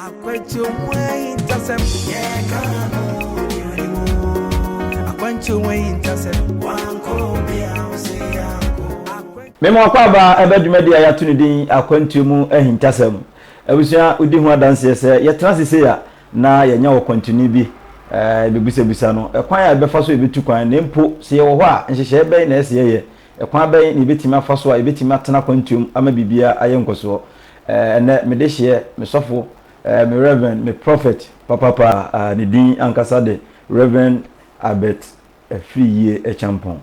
Akwantuo ho ahintasɛm. Yɛka ho yɛnim o. Akwantuo ho ahintasɛm. Wankɔ obi a ɔsɛ yankɔ. Me mo akɔ aba ɛbɛ dwumadi a yɛato ne din Akwantuo mu ahintasɛm. Abusua wodi ho adanseɛ sɛ yɛtena ase sei a na yɛanya ɔkwantuni bi a yɛbɛbisabisa no ɛkwan a yɛbɛfa so a yɛbɛtu kwan na mpo sɛ yɛwɔ hɔ a nhyehyɛeɛ bɛn na ɛsɛ yɛyɛ Ɛkwan bɛn na yɛbɛtumi afa so a yɛbɛtumi atena akwantuo mu ama biribiara ayɛ nkɔsoɔ? Ɛnnɛ, me dehyeɛ, me sɔfo, me Reverend, me Prophet papaapa a ne din ankasa de Reverend Albert Afriyie Acheampong.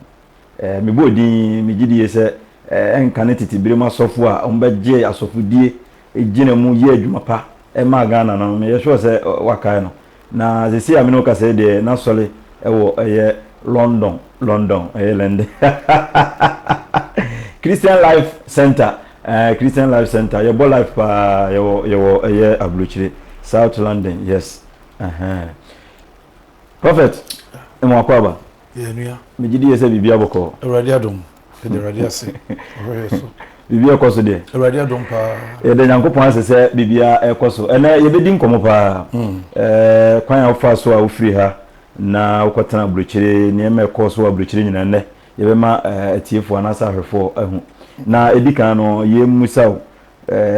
Me bɔɔ din, me gye die sɛ ɛnka ne tete berɛ mu asɔfo a wɔn bɛgyee asɔfodie gyina mu yɛɛ adwuma pa maa Ghana no, me yɛ sure sɛ wakae no. Na sesei a me ne wo kasa yi deɛ, n'asɔre wɔ ɛyɛ London, London, ɛyɛ London, Christian Life Center, eh, Christian Life Center, yɛbɔ life paa, yɛwɔ, yɛwɔ ɛyɛ Aburokyire, South London, yes, ɛhɛn. Prophet, Mmoakwaaba. Yɛ nua. Me gye die sɛ biribi abɔ kɔɔ. Awurade adom. Yɛda Awurade ase. Ɔhwɛ yɛ so. Biribi ɛkɔ so deɛ. Awurade adom paa. Yɛda Nyankopɔn ase sɛ biribiara ɛkɔ so. Ɛnɛ yɛbɛdi nkɔmmɔ paa. Ɛɛ kwan a wofaa so a wofiri ha na wokɔ tena aburokyire, nneɛma ɛkɔɔ so wɔ aburokyire nyinaa nnɛ yɛbɛma atiefoɔ anaasɛ ahwɛfoɔ ahu. Na ɛdi kan no yɛmmisa wo.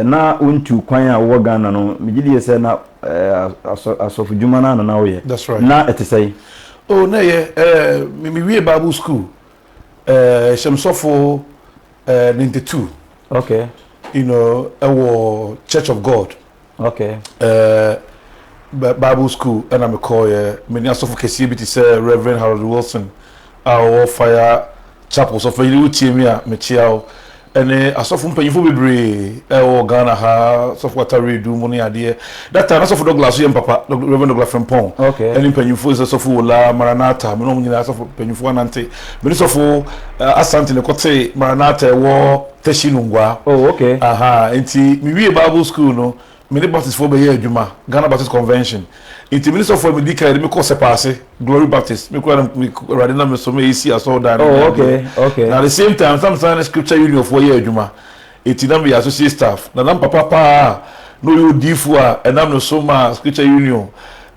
Na wontu kwan a wowɔ Ghana no, megye di sɛ na asɔfodwuma no ara na na woyɛ. Ná ɛte sɛn? Oh, na ɛyɛ. Miwiee Bible sukuu, Hyɛm Sɔfo Ninety Two, you know, wɔ Church of God Okay. Eh, Bible school ɛna me kɔɔ yɛ. Me ni asɔfo kɛseɛ bi te sɛ Reverend Harold Wilson a ɔwɔ Fire Chapel sɔfo yiri wo tie mi a me kyea o. Ɛne asɔfo mpanyinfo bebree ɛwɔ Ghana ha sɔfo atare du mu ne adeɛ. That time na sɔfo Douglas so yɛ mpapa Reverend Douglas Frimpong. Okay. Ɛne mpanyinfo sɛ sɔfo Wola Maranatha me ne wɔn nyinaa sɔfo mpanyinfo anante. Me ne sɔfo eh, Asante ne kɔte Maranatha ɛwɔ. Teshie Lungua. Oh, okay. Ahaa, nti me wiee Bible school no, me ne Baptist foɔ bɛyɛɛ adwuma, Ghana Baptist Convention. Nti me ne sɔfoɔ a medi kan yɛ de me kɔɔ Sɛpaase, Glory Baptist. Me koraa na me, me, Awurade nam me so ma yɛsii asɔrdan no ne Oh, okay, adeɛ. okay. Na at the same time nso na mesan ne Scripture Union foɔ yɛ adwuma. Nti na meyɛ associate staff. Na na me papa paa a na ɔyɛ odiyifoɔ a ɛnam ne so maa Scripture Union,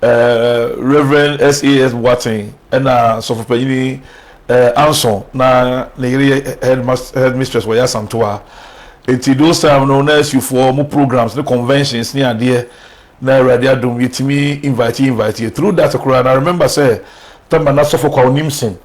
eh, Rev. SAS Boateng ɛna Sɔfo Panyini Eh, Anso na ne yere yɛ headmas headmistress wɔ Yasamtoa. Enti those time no na asufoɔ wɔn programs ne conventions ne adeɛ na Awurade adom yɛtumi invite invite yɛ through that koraa na remember sɛ Tama na Sɔfo Kwaw Nimson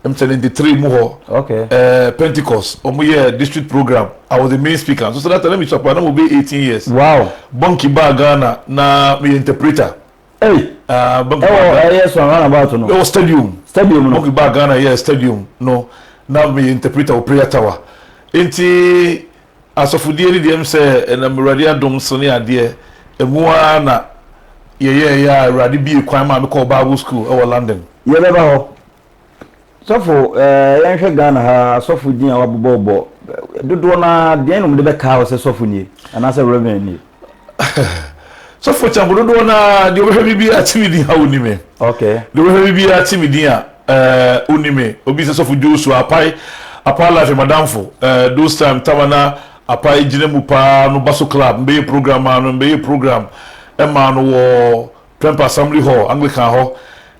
m seventy three mu hɔ Okay. eh, Pentecost wɔn yɛ district program I was the main speaker nso sɛ that time na mesua paa na mewɔ bɛyɛ eighteen years Wow. Bonki baa Ghana na meyɛ interpreter Ei, ah, Monkey ɛwɔ Baga. ɛyɛ so around about no. Ɛwɔ stadium. Stadium no. Monkey Baga na ɛyɛ stadium no. Na meyɛ interpreter wɔ prayer tower. Enti asɔfodie no deɛ, mesɛ ɛnam Awurade adom so ne adeɛ, ɛmu ara na yɛyɛɛyɛ a Awurade bue kwan maa mekɔɔ Bible school ɛwɔ London. Yɛbɛba hɔ. Sɔfo, eh, yɛnhwɛ Ghana ha asɔfo din a wɔabobɔbɔ dodoɔ no ara deɛn na wɔde bɛkaa wɔ sɛ sɔfo nie anaasɛ reverend nie? sɔfo kyɛmpo dodoɔ no ara deɛ wɔbɛhwɛ me biara kye me din a ɔni me. Okay. Deɛ wɔbɛhwɛ me biara kye me din a eh, ɔni me. Obi sɛ sɔfo Joshua apae apae life madamfo eh, those time tama na apae gyina mu paa no baso club mbɛyɛ program maa no mbɛyɛ program ɛmaa no wɔ Prempeh Assembly Hall, Anglican hɔ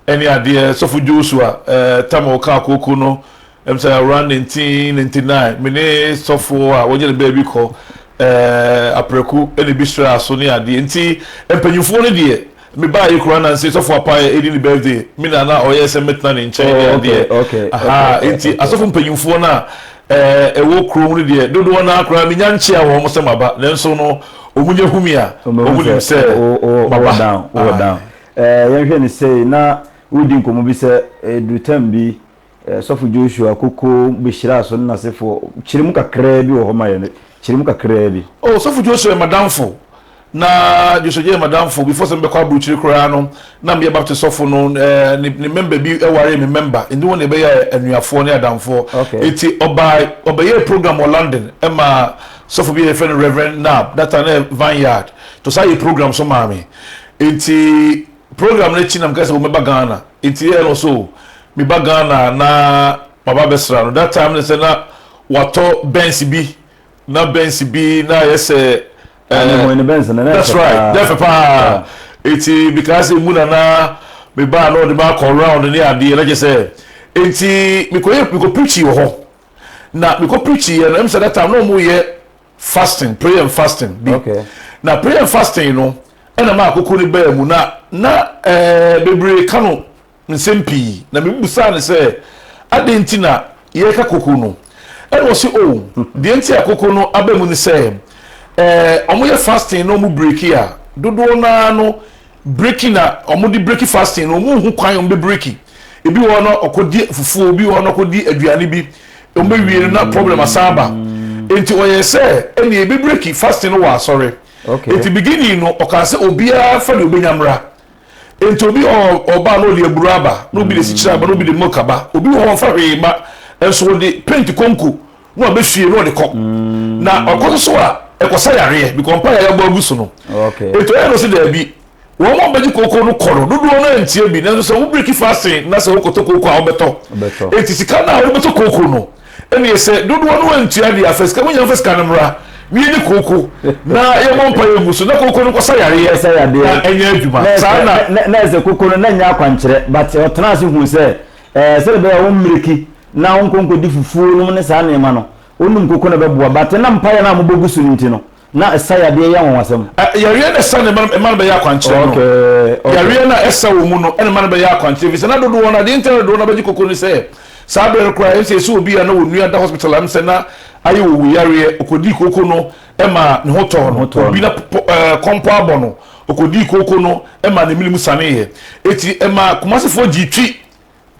ne adeɛ, Sɔfo Joshua Tamil kaa kooko no m sɛ around 1999, me ne sɔfo a wɔnyɛ ne baa bi kɔ aprɛko na ebi sraa so ne adeɛ nti mpanyinfoɔ no deɛ me baaeɛ koraa na nse sɔfo Apaayɛ redi ne birthday, me na na ɔyɛ sɛ mɛtena ne nkyɛn ne adeɛ, aha, nti asɔfo mpanyinfoɔ no a a ɛwɔ kurom no deɛ, dodoɔ no ara koraa menya nkyea wɔ wɔn sɛ maba, nanso no, wɔnya hu me a, wɔnim sɛ maba. Aane. Yɛnhwɛ no sei, na woredi nkɔmmɔ bi sɛ ɛduru tam bi, Sɔfo Joshua Koko bɛhyiraa so ne n'asefoɔ. Kyerɛ mu kakraa bi wɔ hɔ ma yɛn, kyerɛ mu kakraa bi. O, Sɔfo Joshua yɛ m'adamfo. Na Joshua Jay m'adamfo, before sɛ mebɛkɔ aburukyire koraa no, na meyɛ Baptist sɔfo no, ɛɛ ne ne mɛmba bi waree me mɛmba, nti wɔn na yɛbɛyɛɛ anuafoɔ ne adamfoɔ. Okay. Nti ɔbaa, ɔbɛyɛɛ program wɔ London ma sɔfo bi a yɛfrɛ no Rev. Knapp, that time na ɛyɛ Vineyard, nti ɔsan yɛɛ program nso maa me. Nti program no akyi na mekaa sɛ o mɛba Ghana, nti yɛɛ no so meba Ghana na maba abɛsra no, that time ne sɛ na watɔ Benz bi Na Benz bi na ayɛ sɛ Ah, ɛɛ mehuu ne Benz no, na ɛyɛ that's fɛ right, na ɛfɛ paa. paa. Yeah. Eti mekaa sɛ emu na na me baa na ɔde me akɔ round ne adeɛ na kyɛ sɛ eti mekɔyɛ mekɔ preachi wɔ hɔ na mekɔ preachi yɛ no ɛmu sɛ that time na wɔn yɛ fasting prayer and fasting bi Okay. na prayer and fasting no ɛna maa koko ne baa mu na na ɛɛ bebree ka no nsɛm pii, na mibisaa no sɛ, Adɛn nti na yɛreka koko no? Ɛnna ɔse, Oh, deɛ nti a koko no aba mu ne sɛ, eh, wɔyɛ fasting na wɔbreki a, dodoɔ no ara no breki na wɔde breki fasting no, wɔnhu kwan a wɔbɛbreki. Ebi wɔ hɔ no, ɔkɔdi fufuo, ebi wɔ hɔ no, ɔkɔdi aduane bi, wɔbɛwie no na problem asan aba. Enti ɔyɛɛ sɛ, ɛnneɛ yɛbɛbreki fasting no wɔ asɔre. Enti beginning no, ɔkaa sɛ obiara mfa deɛ ɔbɛnya mmra. Enti obi wɔ hɔ ɔba na ɔde aburo aba, na obi de sikyire aba, na obi de milk aba. Obi wɔ hɔ ɔmfa hwee mma, nso ɔde paint konko na wabɛhwie na ɔde kɔ. Na ɔkɔ so so a, ɛkɔsa yareɛ because mpaeɛ a yɛabɔ agu so no. Enti ɔyɛ no sɛ daabi. Wɔn a wɔbɛgye kooko no kɔ no, dodoɔ no ara ntie bi. Nanso sɛ wo break fasting na sɛ wokɔtɔ kooko a, wobɛtɔ. Enti sika no a wode bɛtɔ kooko no, Ɛneɛ sɛ dodoɔ no antua deɛ afa sika monya mfa sika no mmra mie ne kooko na yɛmmɔ mpaeɛ ngu so na kooko no nkɔsa yareɛ na ɛnyɛ adwuma saa na na ɛsɛ kooko no na ɛnyɛ akwankyerɛ but ɔtenaa ase huu sɛ ɛɛ sɛdeɛ ɛbɛyɛ a ɔmmereki na ɔnkɔ nkɔdi fufuo nom ne saa nneɛma no wonom kooko no ɛbɛboa but na mpaeɛ no a mobɛgu so no nti no Na ɛsa yadeɛ yɛ anwanwasɛm. Ɛ, yareɛ no a ɛsa no mma no, mma no bɛyɛ akwankyerɛ no. Okay, okay. Yareɛ no a ɛsa wɔ mu no na mma no bɛyɛ akwankyerɛ, ɛfiri sɛ na dodoɔ no ara, deɛ nti a na dodoɔ no ara bɛgye koko ne sɛ, saa berɛ no koraa, ɛm sɛ yɛsɛ obi a na wɔn nua da hospital a, ɛm sɛ na ayɛ owu yareɛ, ɔkɔdii koko no, ɛmaa ne ho tɔɔ no, obi na pɔ, ɛ, kɔmpɔ abɔ no, ɔkɔdii koko no, ɛmaa n'amene mu saneeɛ. Enti ɛmaa Kumasefoɔ gyee twi.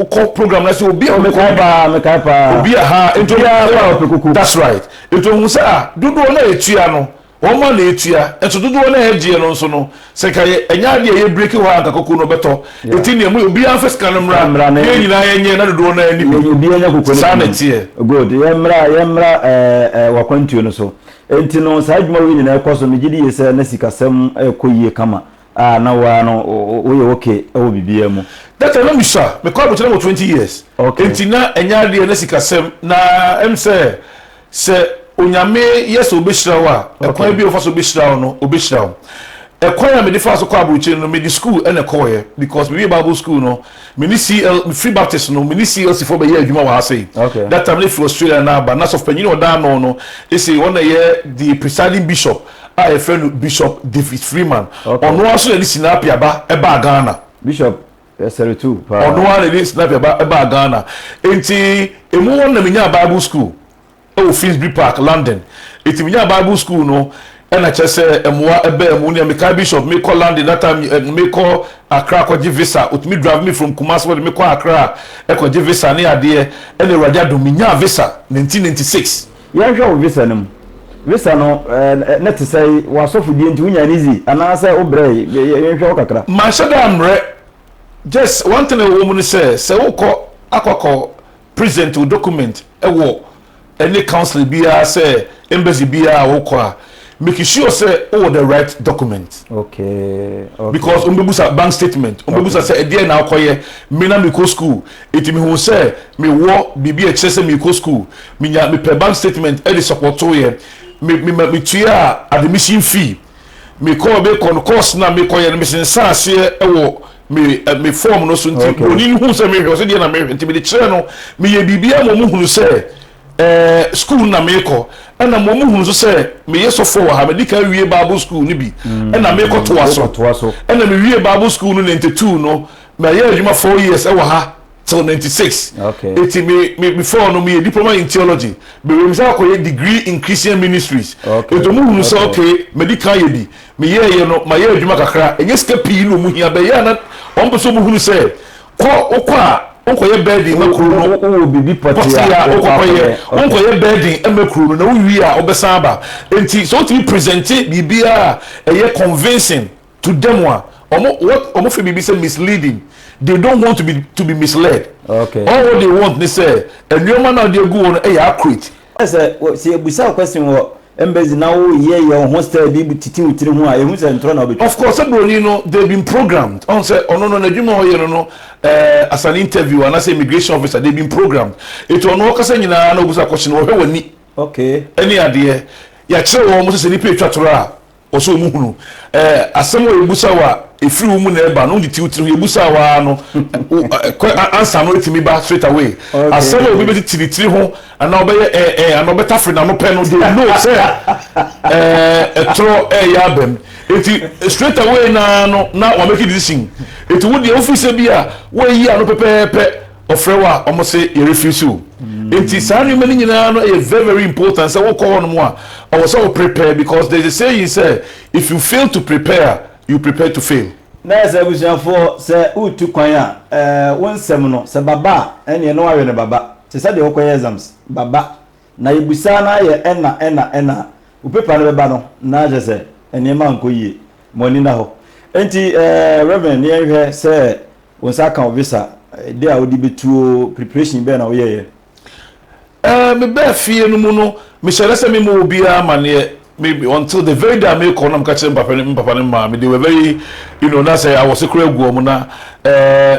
wokɔ program na sɛ obi a mekɔ paa mekae paa obi a ha nti obiara ɔpɛ koko that's right nti ohun sɛ a dodoɔ na etua no wɔn ma na etua nso dodoɔ na ɛgyeɛ no nso no sɛ nka yɛ ɛnyɛ adeɛ yɛ break hɔ a nka koko no bɛtɔ eti nea mu obiara nfa sika no mmra mmra ne yɛn nyinaa yɛn nyɛ na dodoɔ na ɛni bi obi anya koko no saa na ɛteɛ good yɛn mmra yɛn mmra ɛɛ ɛɛ wakwantuo no so eti no saa adwuma wei nyinaa ɛkɔ so megye di yɛ sɛ na sikasɛm ɛkɔ yie kama a na wo ara no woyɛ okay wɔ biribiara mu? That time na misua, mekɔ abrokyire na mewɔ twenty years, Okay. nti na ɛnyɛ adeɛ a na sikasɛm na ɛm sɛ sɛ Onyame yɛ sɛ ɔbɛhyira wo a, ɛkwan Okay. bi a ɔfa so bɛhyira wo no, ɔbɛhyira wo. Ɛkwan a mede faa so kɔɔ abrokyire no, mede school na ɛkɔɔeɛ because mewie Bible school no, me ne CL, mefiri Baptist no, me ne CLC foɔ bɛyɛɛ adwuma wɔ ha sei. Okay. That time na ɛfiri Australia na aba, na sɔfopanyin a ɔda ano no, ese ɔna ɛyɛ the presiding bishop a yɛfrɛ no Bishop David Freeman. Ɔno ara nso na ɛde Sinapia ba baa Ghana. Bishop ɛsɛre too paa. Ɔno ara na ɛde Sinapia ba baa Ghana. Enti emu hɔ no na menyaa Bible school wɔ Finsbury Park, London. Enti menyaa Bible school no na kyerɛ sɛ mmoa baa mu. Nea mekae Bishop, mekɔ London that time eh, mekɔ Accra akɔgye visa. Otumi drive me from Kumasi wɔde mekɔ Accra kɔgye visa ne adeɛ. Ɛna Awurade adom menyaa visa 1996. Yɛnhwɛ wo visa no mu. Visa no na te sɛe? W'asɔfodie nti wonyaa no easy anaa sɛ wo brɛe? Yɛnhwɛ wo kakra. Manhyɛ da mmerɛ, just one thing a ɛwɔ mu ne sɛ, sɛ wokɔ akɔ akɔ present wo document wɔ any council biara sɛ embassy biara a wokɔ a, Make sure sɛ wowɔ the right document. Okay, okay. Because wɔn bɛ busa bank statement, wɔn bɛ busa sɛ ɛdeɛ na akɔ yɛ, me na mi kɔ school, eti mi hu sɛ mi wɔ biribi a ɛkyerɛ sɛ mi kɔ school, mi nya mi pɛ bank statement ɛde sɔpɔtoo yɛ, mi mi ma mi tua admission fee, mi kɔɔ mi kɔ no course na mi kɔ yɛ no mi sensan aseɛ ɛwɔ mi ɛ mi form no so nti broni no hu sɛ mi hwɛ ɔsɛ deɛ na mi hwɛ nti mi de kyerɛ no mi yɛ biribi ama wɔn hunu sɛ. Ɛɛ, sukuu na meekɔ. Ɛna mmom muhunu nso sɛ meyɛ sɔfoɔ wɔ ha. Medi kan wie Bible sukuu no bi, ɛna meekɔtoa so. Ɛna mewiee Bible sukuu no ninety two no, mayɛ adwuma four years wɔ ha till ninety six. Enti me, me, before no meyɛ diploma in theology. Mewiee mesan kɔyɛ degree in Christian ministries. Enti wɔhunu sɛ okay, madi kan ayɛ bi. Meyɛeɛ no, mayɛ adwuma kakra. Ɛnyɛ sika pii na wɔhia, but ɛyɛ a na wɔpɛ sɛ wɔhunu sɛ. Kɔ, wokɔ a, wokɔyɛ bɛɛden ma kuro no. Wowɔ biribi pɔtee a wokɔ akɔyɛ. Wonkɔyɛ bɛɛden mma kuro no, na wowie a wobɛsan aba. Enti sɛ wotumi presente biribiara a ɛyɛ convincing to them a, wɔn, what wɔfrɛ biribi sɛ misleading, they don't want to be to be misled. Okay. All what they want ne sɛ nneɛma no a wɔde agu hɔ no yɛ accurate. Sɛ, sɛ yɛbisa wo question wɔ Mbedzi na wo yɛ yɛ wo ho style bi bu tsitsi wo tsir ho a ehu sɛ ntorɔ na obetwa. Of course sɛ broni no they been programmed ɔhu sɛ ɔno no n'adwuma a ɔyɛ no no eh as an interview anaa sɛ immigration officer they been programmed eti ɔno ɔkasa nyinaa na obusa question wɔhwɛ w'ani Okay. ɛne adeɛ yɛakyerɛ wɔn sɛ sɛ nipa etwa toro a Wɔsɛ wɔn hunu eh, asɛm wɔ yɛbusa wo a Ɛfiri wo mu na ɛba no, wode ti wo tiri ho Yɛbusa wo ara no, kɔ ansa no ɛtumi ba straight away Asɛm a obi bɛtiti ne tiri ho anaa ɔbɛyɛ eh eh Anaa ɔbɛtafere n'ano pɛ no, they know sɛ eh Ɛtorɔ ɛreyɛ aba mu Enti straight away no ara no na wɔamake decision Enti wo deɛ wofiri sɛ bi a woayi ano pɛpɛɛpɛ Ɔfrɛ wo a ɔmo se yɛrefiri so o. Nti saa nneɛma no nyinaa no ɛyɛ very very important sɛ wokɔ hɔ nom a ɛwɔ sɛ wo prepare because there is a saying sɛ if you fail to prepare a you prepare to fail. Na ayɛ sɛ abusuafoɔ sɛ woretu kwan a eh wo nsɛm no sɛ baba a ɛneɛ na woawe no baba te sɛ deɛ wokɔyɛ exams baba Na yɛbisaa no ara yɛ ɛna ɛna ɛna a, wo paper no bɛba no, na kyerɛ sɛ nneɛma nkɔ yie. Ma w'ani nna hɔ. Enti eh, Reverend, na yɛnhwɛ sɛ wo nsa aka wo visa, dɛn a wode bɛtuo, preparation bɛn na woyɛeɛ? Eh, mebaa fie no mu no, mehyɛɛ da sɛ memmɔ obiara amaneɛ, me, until the very day a merekɔ no na meka kyerɛɛ me papa ne, me papa ne me maame, they were very, you know, na sɛ awɔse koraa gu wɔn, na eh,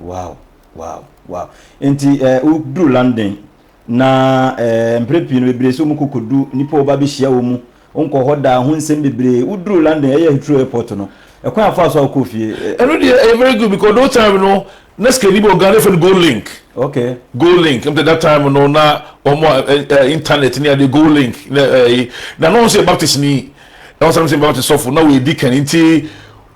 Wow! Wow! Wow! Nti eh, woduru London, na eh, mpere pii no bebree sɛ wɔkɔ kɔdu nnipa wɔba bɛhyia wɔn mu, wonkɔ hɔ daa, ho nsɛm bebree. Woduru London, ɛyɛ Heathrow airport no, ɛkwan afa so a wokɔɔ fie. Eh, Ɛno deɛ ɛyɛ very good because those time no na sika ni bi wɔ Ghana efɛ no Go Link. Okay. Go Link ɛmu tɛ that time no na wɔn a ɛ ɛ internet ni ade Go Link na ɛyi na na wɔn nso yɛ Baptist ni na wɔn san nso yɛ Baptist sɔfo na wɔn edi kan nti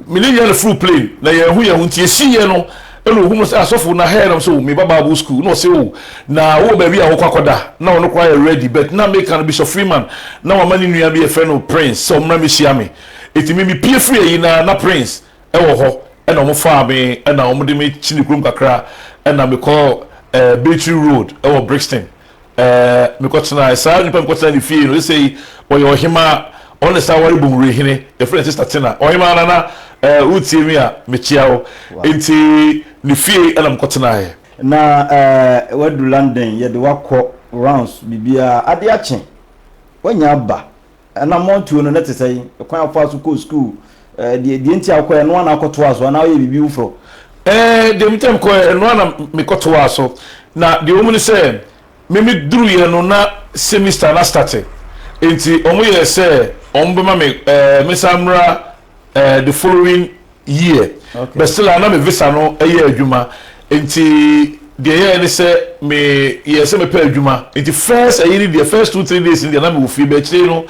Me ne Yan foro plane na yɛn ho yɛn ho nti ɛsii yɛ no na ɔhu me sɛ asɔfo na hɛɛ na me sɛ oh me ba bible school na ɔsɛ oh na wowɔ baabi a wokɔ akɔda na ɔno koraa yɛ ready but na meka no Bishop Freeman na wama ne nua bi yɛfrɛ no Prince sɛ ɔmmra mɛhyia me ɛti me me pie firi ayi na na Prince wɔ hɔ ɛna ɔmo faa me ɛna ɔmo de me kyini kurom kakra ɛna mekɔ eh, Battery Road ɛwɔ Brixton Mekɔtenae. Saa onipa a mekɔtenaa ne fie no, seesei ɔyɛ ɔhemmaa. Ɔne saa ware Bonwire hene. Yɛfrɛ no Sista Tina. Ɔhemmaa Nana, woretie me a, mekyea wo. Enti ne fie na mekɔtenaeɛ. Na woadu London, yɛde wo akɔ rounds biribiara. Adeɛ akye, woanya aba. Anammɔntuo no, na ɛte sɛn? Ɛkwan a wofaa so kɔɔ sukuu, eh, deɛ, deɛ nti a wokɔɛ, ɛno ara na wokɔtoaa so anaa woyɛ biribi foforɔ? Eh, deɛ nti a mekɔɛ, ɛno ara na mekɔtoaa so. Na deɛ ɛwɔ mu ne sɛ, me meduruiɛ no na semester no astate, enti wɔyɛɛ sɛ wɔbɛma me, eh, mensan mmra, eh, the following. year but still a na me visa no yɛ adwuma nti deɛ ɛyɛɛ ne sɛ me yɛ sɛ mepɛ adwuma nti first ɛyi ne deɛ first two three days ne deɛ na me wɔ fie bɛkyire no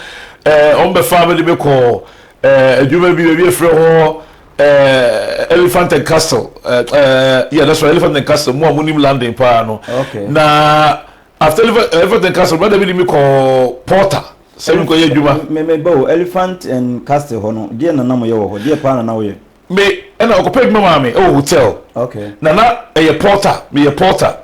ɛɛ wɔn bɛfa me de me kɔ ɛɛ adwuma bi baabi efrɛ hɔ ɛɛ elephant and castle ɛɛ yeah that's right elephant and castle mu a mo nim london paa no na after elephant and castle brother bi de me kɔ porter. sɛ merekɔ yɛ adwuma. Me me ba o, Elephant and Castle hɔ no, deɛ na na mo yɛ wɔ hɔ? Deɛ paa na na wo yɛ? Me ɛna ɔkɔpɛ adwuma maa me ɛwɔ hotel. Okay. Na na ɛyɛ porter, me yɛ porter.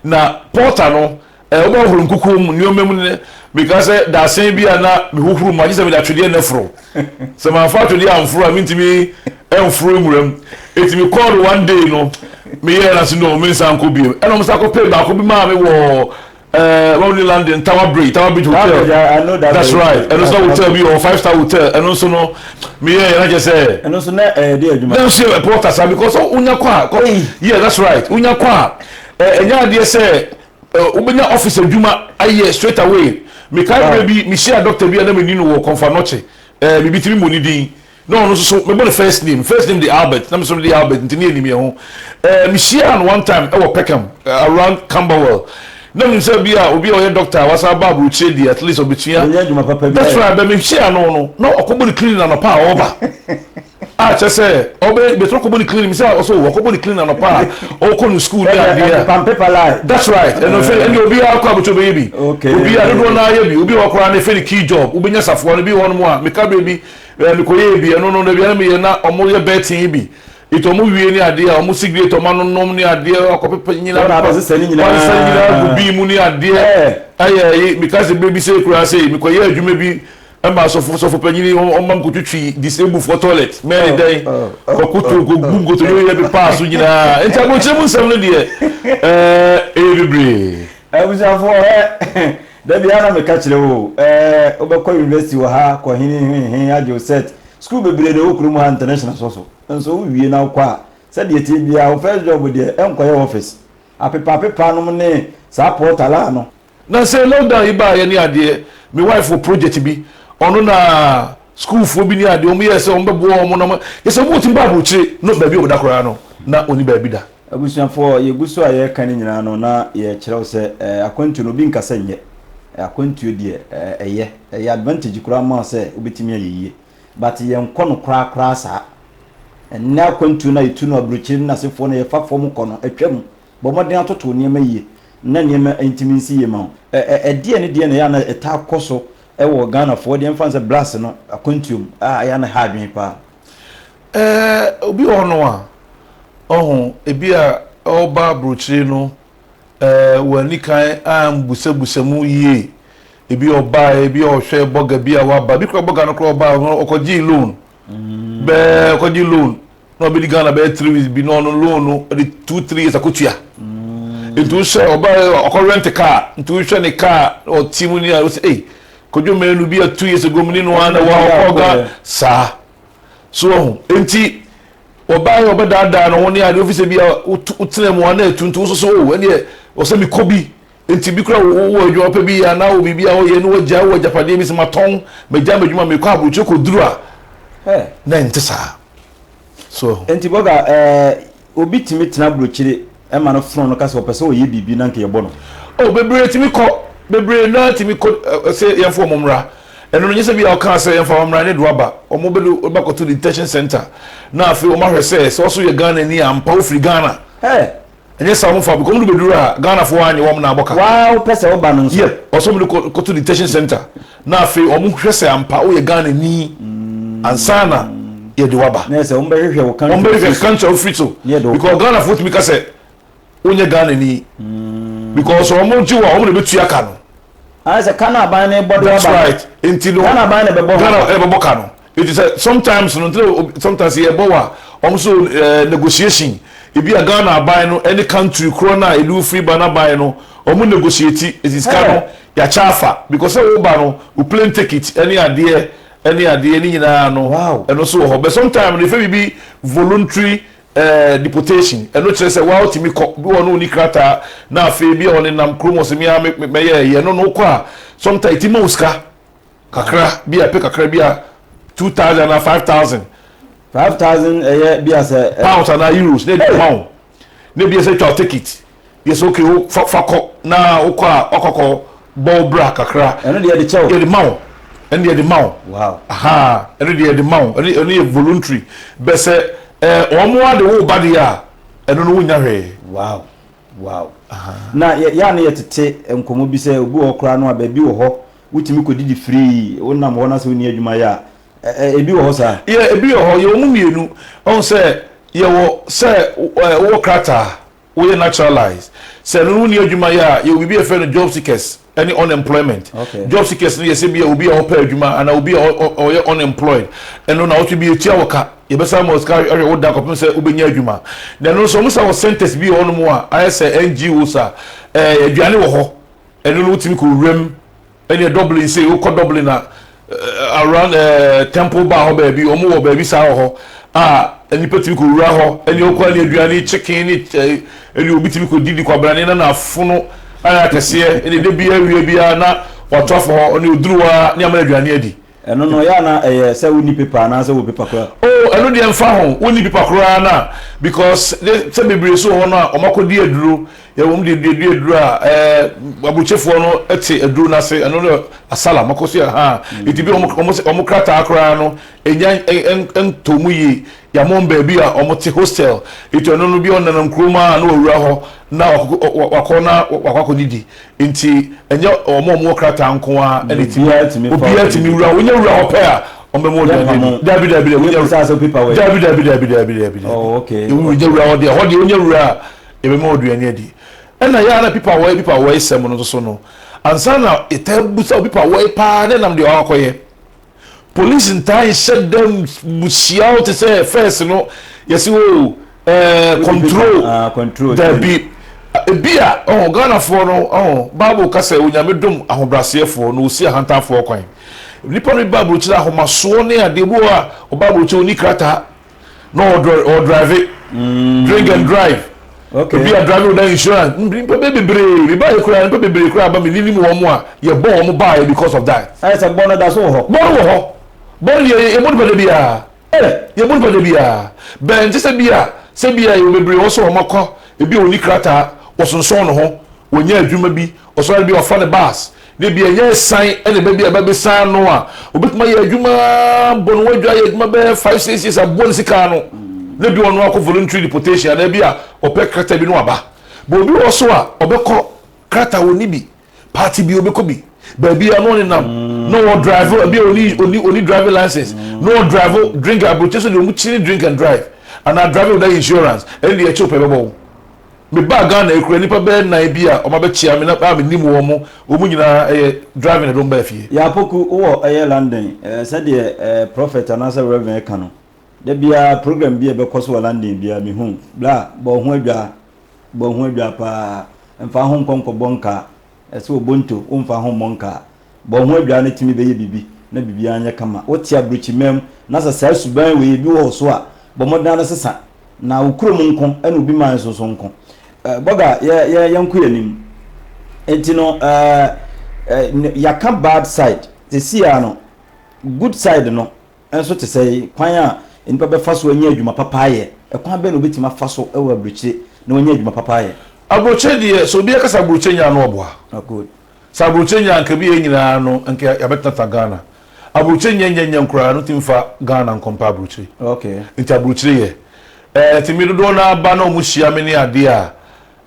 Na porter no, ɛɛ wɔn bɛ hohoro nkukuo mu nneɛma mu ne, me ka sɛ dasen bi a na me hohoro mu a, gye sɛ me de atwedeɛ na ɛforo. Sɛ ma nfa atwedeɛ anforo a, me ntumi ɛnforo nwura mu. Eti me kɔɔ do one day no, me yɛɛ no ase no, me nsa nkɔ bio. Ɛna wɔn san kɔ pɛ baako bi maa me wɔ. Eh, wɔn ni landing tower bridge tower bridge hotel. Tower bridge I know that. That's right. Ɛno nso hotel bi wɔ five star hotel. Ɛno nso no mi yɛ yɛn akyɛ sɛ. Ɛno nso na ɛyɛ de adwuma. Ɛno nso yɛ ɛpɔ ta saa because wonya kɔ a kɔ yeah that's right wonya kɔ a ɛ ɛnya adeɛ sɛ ɛ wobɛnya office adwuma ayɛ straight away. Mikae bere bi mi hyia doctor bi a na mi ni no wɔ kɔnfa nɔkye ɛ bibi tiri mu ni din. Na ɔno nso so mebɔ no first name, first name de Albert na me nso mede Albert nti ne yɛnim yɛn ho. Eh, mehyiaa no one time ɛwɔ Peckham, around Camberwell. Na menim sɛ bi a obi a ɔyɛ doctor a wasan aba aburokyire deɛ at least ɔbɛtua. Ɔnyɛ adwuma papa biara. That's right, but mehyiaa no no na ɔkɔbɔ ne clinic anɔpa a ɔreba. Ah, kyerɛ sɛ ɔbɛ bɛtumi akɔbɔ ne clinic, mesɛ ɔsɛ o, ɔkɔbɔ ne clinic anɔpa a ɔrekɔ ne school ne adeɛ a. Ɛnepam paper line. That's right, ɛno fɛ ɛne obiara kɔ abɛtumi bɛyɛ bi. Okay. Obiara, dodoɔ no ara yɛ bi. Obi wɔ hɔ koraa no yɛfrɛ no key job, wobɛnya safoa no, bi wɔ hɔnom a meka berɛ bi Ɛɛ me kɔ yɛɛ bi ɛno no dabi ɛna me yɛ na ɔmo yɛ bɛɛten yi bi it ɔmo wie ne adeɛ a ɔmo sigrate ɔmo ano nom ne adeɛ akɔ pepa nyina pepa wɔn asesa ne nyinaa wɔn asesa ne nyinaa gu bii mu ne adeɛ ɛɛ ɛyɛ ɛyi me ka se bere bi se koraa se me kɔ yɛ adwuma bi ɛma asɔfo sɔfo panyin yi ɔmo ma me kɔ twitwi disabled foɔ toilet mɛɛ ne dɛn kɔ koto kɔ gu nkotodwe yɛ pepa so nyinaa nti abrokyire mu nsɛm no deɛ ɛɛ ɛyɛ bebree. Abusuafoɔ ɛ Da biara na meka kyerɛ wo, ɛɛ, wobɛkɔ university wɔ ha, kɔ he he he he, agye wo cert. School bebree na ɛwɔ kurom ha, international so so. Nso wowie na wokɔ a, sɛdeɛ ɛteɛ biara, wo first job deɛ, nkɔyɛ office. Apepaapepaa nom ne saa portal a no. Na sɛ lockdown yi baeɛ ne adeɛ, me wife wɔ project bi, ɔno na schoolfoɔ bi ne adeɛ, wɔyɛɛ sɛ wɔbɛboa wɔn na wɔn, kyerɛ sɛ wɔwɔ tim ba aburokyire, no baabi a wɔda koraa no, na wɔnni baabi da. Abusuafoɔ, yɛgu so a yɛreka no nyinaa no, na yɛrekyerɛ wo sɛ akwantuo no, obi nka sɛ nyɛ. Akwantuo deɛ, ɛyɛ. Ɛyɛ advantage koraa ma wo sɛ wobɛtumi ayɛ yie. But yɛnkɔ no koraa koraa saa. Ɛnnɛ akwantuo no a yɛtu no aburokyire no na asefoɔ no yɛfa fam kɔ no, atwam. Bɔ mmɔden atoto wo nneɛma yie na nneɛma ntumi nsi yie mma wo. Ɛdeɛn ne deɛn na ɛyɛ a na ɛtaa kɔ so wɔ Ghanafoɔ deɛ, mfa no sɛ Blacks no akwantuo mu a ɛyɛ a na ɛha adwene paa? Ɛɛ, obi wɔ hɔnom a, ɔho, ebi a ɔreba aburokyire no, ɛɛ, wɔanni kan ambusabusa mu yie. Ebi ɔbaeɛ, ebi ɔhwɛ bɔga bi a waba. Ebi kora bɔga no kora ɔbaa no, ɔkɔgyee loan. Mm. Bɛɛ ɔkɔgye loan na ɔbɛdi Ghana bɛyɛ three weeks bi na ɔno loan no de two three years akɔtua. Mm. Nti wohwɛ ɔbaa ɔkɔ rent car nti wohwɛ ne car ɔte mu ni a wosɛ ei Kojo menu bi a two years ago mene no ara na ɛwɔ ha ɔkɔ ɔga saa so wahu nti ɔbaa yɛ ɔbɛdaadaa no ho ne adeɛ ofi sɛ bi a wotena mu ana atu nti woso so o ɛneɛ ɔsɛ mekɔ bi nti bi kora wowɔ adwuma pɛ bi anaa wɔ biribi a woyɛ ne wagya wɔ agyapadeɛ bi sɛ matɔn magya m'adwuma mekɔ aburokyire kɔduru a na ɛnte saa so nti bɔga ɛɛ Obi tumi tena burokyire ma no fono no ka sɛ ɔpɛ sɛ ɔyɛ biribi na nka yɛbɔ no. Oh bebree tumi kɔ, bebree no ara tumi kɔ se yɛmfa wɔn mmra. Ɛno no nyɛ sɛ bi a ɔkaa sɛ yɛmfa wɔn mmra ne de aba. Wɔn bɛdo bɛkɔto detention center na afei wɔn ahwɛ sɛ sɛ wo nso yɛ Ghanani a ampa wofiri Ghana. Hey! Ɛnyɛ saa a wɔmfa wo because wɔn de bɛduru a Ghanafoɔ annye wɔn na abɔ ka. Waa wopɛ sɛ woba no nso. Yeah, ɔsɛ wɔn de kɔ kɔto detention center. Na afei ɔmo hwɛ sɛ ampa woyɛ Ghana ni ansa na yɛde wo aba. Nɛsɛ ɔmo bɛhwehwɛ wo country a wofiri so. Ɔmo bɛhwehwɛ country a wofiri so because Ghana foɔ tumi ka sɛ wonyɛ Ghana ni because sɛ ɔmo gye wo a ɔmo na ɛbɛtua ka no. Ayɛ sɛ ka no aban no rebɔ de wo aba no Ghana aban na ɛbɛbɔ ho ka. Eti sɛ sometimes no ntina obi sometimes sɛ yɛbɔ wa ɔmo so ɛɛ negotiation ebi a Ghana aban no ɛne country korɔ no a ɛde wo firi ba no aban no ɔmo negotiate eti sika no yakyɛ afa because sɛ wo ba no wo plane tekit ɛne adeɛ ɛne adeɛ ne nyinaa no ɛno nso wɔ hɔ but sometime no yɛfrɛ biribi voluntary ɛɛ deportation ɛno kyerɛ sɛ waa otumi kɔ bi wɔ hɔ no onni krataa na afei bi a ɔnenam kurom ɔse me ara me mɛyɛ ɛyi ɛno no wokɔ a sometimes eti ma wo sika. Kakra bi a, ɛpɛ kakra bi a, two thousand anaa five thousand. Five thousand ɛyɛ bi a sɛ. Pounds anaa euros na ɛde ma wo. Na bi a sɛ twa wo ticket, bi a sɛ okay wo fa fa kɔ na wo kɔ a wakɔ akɔ bɔ wo bra kakra. Ɛno deɛ yɛde kyɛ wo. Yɛde ma wo. Ɛno deɛ yɛde ma wo. Wow. Ahaa ɛno deɛ yɛde ma wo. Ɛno ɛno yɛ voluntary. Bɛ sɛ ɛɛ wɔn ara de wo ba deɛ a, ɛno no wonnya hwee. Wow wow. Ahaa. Na yɛ yɛ a na yɛtete nkɔmmɔ bi sɛ obi wɔ hɔ koraa no a baabi wɔ hɔ. Wotumi kɔdidi free, wonam hɔ na sɛ wonni adwuma yɛ a, ɛ-ɛ, ebi wɔ hɔ saa? Yeah, ebi wɔ hɔ. Yɛwɔ mu mmienu. Wahu sɛ, yɛwɔ sɛ ɛ-ɛ, wowɔ krataa, woyɛ naturalized. Sɛ ɛno no wonni adwuma yɛ a, yɛwɔ biribi a yɛfrɛ no job seekers ne unemployment. Okay. Job seekers no yɛ sɛ bi a obi a ɔpɛ adwuma anaa obi a ɔ-ɔ-ɔyɛ unemployed, ɛno nawɔtwe bi yɛtua wo ka, yɛbɛsan ama wo sika ahwɛ wo da kɔpem sɛ wobɛnya adwuma. Na ɛno nso wɔsan wɔ centres bi wɔ hɔnom a ayɛ sɛ NGOs a, ɛ-ɛ, aduane wɔ hɔ. Ɛno no wotumi kɔ wuram ɛneɛ Dublin sei wokɔ Dublin a around ɛɛ Temple Bar hɔ baabi wɔn wɔ baabi saa wɔ hɔ a nipa tumi kɔ wura hɔ ɛneɛ wokɔ ɛneɛ aduane chicken ne ɛɛ ɛneɛ obi tumi kɔ didi kwabrane na n'afono ayɛ akɛseɛ ɛneɛ de bi awia biara na wato afɔ hɔ ɛneɛ oduru hɔ a ne ama no aduane adi. Ɛno no, ɛyɛ a na ɛyɛ sɛ wonni pepa anaa sɛ wɔ pepa koraa. Oh, ɛno deɛ mfa ho, wonni pepa koraa no a, because ne sɛ bebree nso wɔ hɔ no a wɔakɔdi aduro, yɛ wɔn deɛ duadua aduro a ɛɛ aburokyefoɔ no te aduro no ase, ɛno no asala, wɔakɔ so yɛ ahaa, eti bi a wɔn wɔn wɔn krataa koraa no enya ɛn ɛntɔ mu yie, yɛama wɔn baabi a wɔte hostel, eti ɔno no bi a ɔnenam kurom a na wawura hɔ na wakɔ wakɔ na wakɔ akɔdidi, Nti ɛnyɛ wɔn a wɔwɔ krataa nko ara na etumi. Obiara tumi wura hɔ. Wonya wura hɔ pɛ a, wɔbɛma wo aduane adi. Daabi, daabi, daabi, wonya wura. Daabi, daabi, daabi, daabi, daabi, daabi. Wonya wura hɔ deɛ, ɛhɔ deɛ wonya wura a, yɛbɛma wo aduane adi. Ɛna ɛyɛ a na pipa wɔe, pipa wɔe sɛm no nso so no, ansa na yɛtaa bisa wo pipa wɔe paa na ɛnam deɛ wakɔ akɔyɛ. Police ntaa nhyɛ da nhyia wo te sɛ first no yɛsi o oh, eh, control ah, control dabi ebi a ɔho Ghanafoɔ no ɔho Bible ka sɛ onyame dom ahobraseɛfoɔ na osi ahantanfoɔ kwan nipa no bi Bible kyerɛ ahomasoɔ ne adeɛ bi wɔ a Bible kyerɛ oni krataa na ɔdrive mm. drink and drive okay. ebi a drive no da insurance nipa bɛ bebree mi ba yɛ kura nipa bebree kura ba mi ni ni mu wɔn a yɛ bɔ wɔn ba yɛ because of that. ayɛ sɛ bɔ no da so wɔ hɔ. bɔ no wɔ hɔ bɔ no yɛ yɛ bɔ nipa de bi a eh, yɛ bɔ nipa de bi a bɛn ti sɛ bi a sɛ bi a yɛ bebree wɔn so wɔn akɔ ebi a wɔn ni krataa wɔsonsɔn ne ho wɔn nyɛ adwuma bi ɔsɔre bi ɔfa ne baas. Da bi ɛnyɛ ɛsan na ɛba bi a ɛba bɛsan ano a obɛtumi ayɛ adwuma bɔ ne ho adwa ayɛ adwuma bɛyɛ five six years aboa ne sika ano na bi ɔno akɔ voluntary deportation anaa bi a ɔpɛ krata bi no aba bɔ obi wɔ so a ɔbɛkɔ krata wɔ ne bi party bi ɔbɛkɔ bi baabi a na ɔne nam na ɔwɔ drive ebi a ɔni ɔni ɔni driving license na ɔwɔ drive drink aburokyi so deɛ ɔmo kyini drink and drive anaa drive without insurance ɛne deɛ ɛkyɛw pɛ bɛbɔ wo. Mebaa Ghana ekura nnipa bɛyɛ nnan bi a wɔabɛkyea me na a mennim wɔn, wɔn nyinaa ɛyɛ driving na ɛde wɔn baa fie. Yaa Poku, wowɔ ɛyɛ London, ɛɛ sɛdeɛ ɛɛ Prophet anaasɛ Reverend ɛka no, da biara program bi a ɛbɛkɔ so wɔ London biara mehu, bra, bɔ wo ho adwaa, bɔ wo ho adwaa paa, mfa wo ho nkɔ nkɔbɔ nkaa, Ɛsɛ Obonto, womfa ho mmɔ nkaa. Bɔ ho adwaa na tumi bɛyɛ biribi na biribiara nyɛ kama. Wote abrukyimaa mu na sɛ saa suban wei bi wɔ wo so a, bɔ mmɔden ara sesa. Na wo kurom nko ɛna obi man so nso nko. Bɔga, yɛ yɛ yɛnko yɛn anim. Enti no eh, eh, yɛaka bad side. Sɛsi ara no, good side no, nso te sɛn? Kwan a nnipa bɛfa so anya adwuma papa ayɛ, Ɛkwan bɛn na obi betumi afa so wɔ aburokyire na wanya adwuma papa ayɛ? Aburokyire deɛ, sɛ obiara ka sɛ aburokyire nyɛ a, na ɔboa. Oh good. Sɛ aburokyire nyɛ a, anka ɛbi yɛn nyinaa no, anka yɛabɛtenatena Ghana. Aburokyire nyɛ nyɛ nyɛ koraa no, tumi fa Ghana nkɔ mpa aburokyire. Okay. Nti aburokyire yɛ. Eh, tumi dodoɔ no ara ba na wɔn hyia me ne adeɛ a,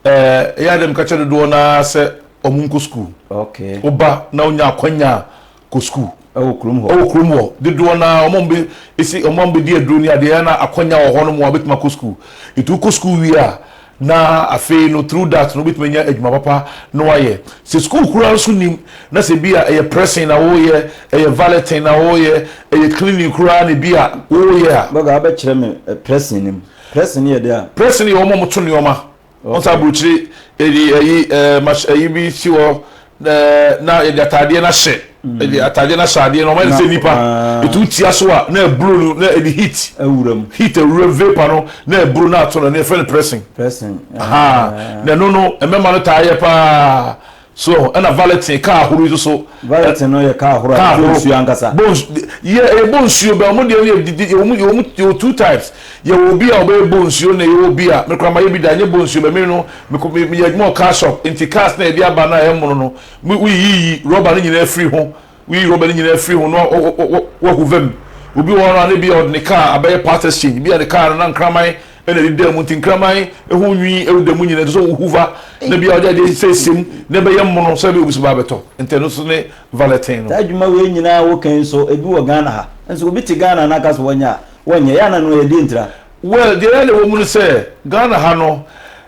eh, ɛyɛ a deɛ meka kyerɛ dodoɔ no ara sɛ wɔn nkɔ sukuu. Okay. Woba na wonya akwanya a, kɔ sukuu. Ɛwɔ kurom hɔ. Ɛwɔ kurom hɔ. Dodoɔ no ara, wɔn a wɔbɛ, esi, wɔn a wɔbɛdi aduro ne adeɛ, ɛyɛ na akɔnya wɔ hɔnom a wɔbɛtumi akɔ sukuu. Nti wokɔ sukuu wie a, na afei no, through that no, wobɛtumi anya adwuma papa na woayɛ. Sɛ sukuu koraa nso nnim, na sɛ bi a ɛyɛ pressing na woreyɛ, ɛyɛ valeting na woreyɛ, ɛyɛ cleaning koraa na bi a woreyɛ a. Bɔga, wobɛkyerɛ me pressing no mu? Pressing no yɛ dɛn a? Pressing no yɛ wɔn a wɔto nneɛma. Ɔn saa aburukyire yɛde ɛyi ɛɛ mach ɛyi bi si hɔ ɛɛ na yɛde ataadeɛ no ahyɛ yɛde ataadeɛ no ahyɛ adeɛ no ɔmo ayɛ no sɛ nipa etu wo ti aso a na ɛburo no na ɛde heat awura mu heat awura mu vapour no na ɛburo na ato no ɛno yɛfrɛ no pressing pressing ahaa na ɛno no mmɛma no taa yɛ paa So ɛna valɛtin, kaa ahorow yi nso so. Valɛtin no yɛ kaa ahorow a ɛbɔ nsuo ankasa. Yɛ ɛbɔ nsuo bɛ, wɔn deɛ no yɛ didi, yɛ wɔn, yɛ wɔn, yɛ wɔ two types. Yɛ wɔ obi a ɔbɛyɛ bɔ nsuo na yɛ wɔ obi a, me koraa ma yɛ bi da, ɛnyɛ bɔ nsuo bɛ, me no, me kɔ, me, me yɛ adwuma wɔ car shop, nti cars no a yɛde aba no a ɛmono no, me, wo yiyi rubber no nyinaa firi ho, Woyi rɔba no nyinaa firi ho na wɔahova mu. Obi wɔ hɔ no a, na ebia ɔde ne kaa abɛyɛ part exchange. Ebia ne kaa no na nkraman na ɛde da mu, nti nkraman ho nwi da mu nyinaa, ɛsɛ sɛ wohova na ebia ɔde adeɛ asiesie mu na ɛbɛyɛ mono sɛdeɛ obi nso ba abɛtɔ. Nti ɛno nso ne valeting no. Saa adwuma wei nyinaa a woka yi nso, ebi wɔ Ghana ha. Nso obi te Ghana na aka sɛ ɔnyɛ a, wɔnyɛ. Ɛyɛ a na ɛno ɛyɛ deɛn tira? Well, deɛ ɛyɛ a na ɛwɔ mu ne sɛ, Ghana ha no,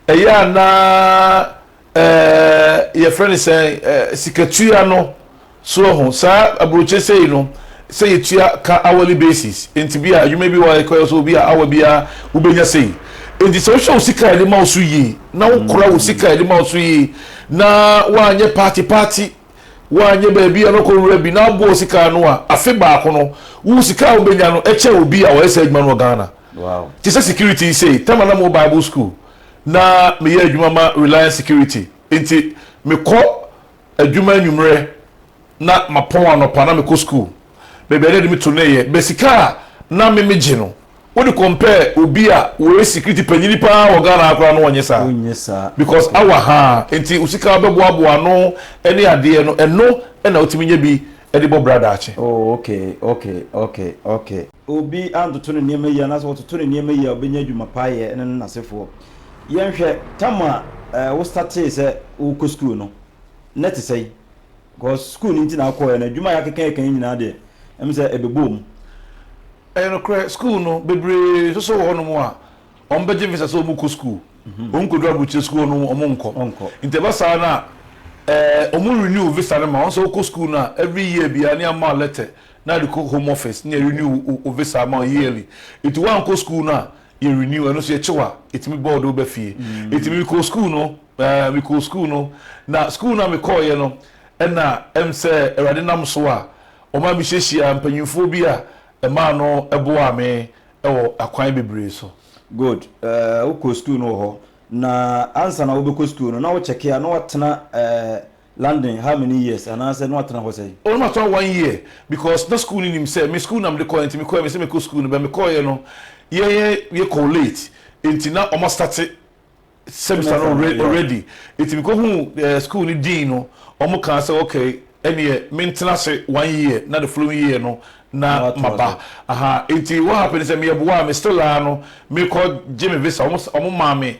ɛyɛ a na Ɛɛɛ yɛfrɛ no sɛn ɛɛ sikatua no so ɛho saa aburokye sɛyi no sɛ yɛtua ka hourly basis nti bi a adwuma bi wɔ a ɛkɔyɛ sɛ obi a hour bi a wobɛnya sɛyi nti sɛ wohwɛ wo sika a yɛde ma wo so yie na wokora wo sika a yɛde ma wo so yie na woanyɛ party party woanyɛ baabi a na wokɔ wura bi na aboa wo sika ano a afe baako no wo sika a wobɛnya no ɛkyɛ obi a ɔyɛ saa adwuma no wɔ Ghana. Wow. Te sɛ security yi sei, tɛma na mo wɔ Bible school, Na meyɛ adwuma ma Reliance Security, enti mekɔ adwuma anwummerɛ na mapɔn anɔpa na mekɔ sukuu, baabi a na yɛde me to no yɛ. But sika a na me megye no, wode compare obi a ɔyɛ security panyini pa ara wɔ Ghana ha koraa no ɔnyɛ saa. Ɔnyɛ saa. Because hour ha ara nti wo sika a wobɛboaboa ano ne adeɛ no, ɛno na wotumi nya bi de bɔ bra daakye. Oh okay, okay, okay, okay. obi antoto ne nneɛma yie anaasɛ ɔtoto ne nneɛma yie a ɔbɛnya adwuma pa ayɛ ne ne n'asefoɔ. Yɛnhwɛ tam a eh, wo statee sɛ wokɔ sukuu no, na ɛte sɛn? Because sukuu no nti na akɔɛ no adwuma a yɛakeka yɛka yi nyinaa deɛ, ɛm sɛ ɛbɛbɔɔ mu. Ɛyɛ nokorɛ, sukuu no, bebree nsoso wɔ hɔ nom a, wɔn bɛgye visa sɛ wɔn kɔ sukuu. Wɔn nkɔduru aburukyire sukuu hɔ nom, wɔn nkɔ. Ɔnkɔ. Nti ɛba saa no a, eh, wɔn renew visa no ma wo. Sɛ wokɔ sukuu no a, every year biara ne ama wo lɛtɛ na de kɔ home office na yɛ renew wo wo visa ama wo yearly nti wo ankɔ school no a yɛ renew ɛno nso yɛ kyew a yɛtumi bɔ wode wo ba fie nti me mekɔɔ school no ɛɛ me kɔɔ school no na school no a me kɔɔ yɛ no ɛna ɛm sɛ awurade nam so a ɔma me hyehyia mpanyinfoɔ bi a ɛmaa no ɛboaa me ɛwɔ akwan bebree so. Good ɛɛ wo kɔɔ school no wɔ hɔ na ansa na wo bɛkɔ school no na wo kyɛke a na watena ɛɛ. London how many years anaasɛ na watena hɔ sɛn? Oh na matena hɔ one year because na school no nim sɛ me school na mede kɔɛ nti mekɔɛ mesɛ mekɔ school no but mekɔeɛ no yɛyɛ yɛkɔ late nti na ɔma starte semester no already nti mekɔ hu eh, school no dean no ɔmo kaa sɛ okay ɛneɛ mentena se one year na the following year no na maba aha nti what happened sɛ meyɛ boa me still a no mekɔ gye me visa ɔmo ɔmo maa me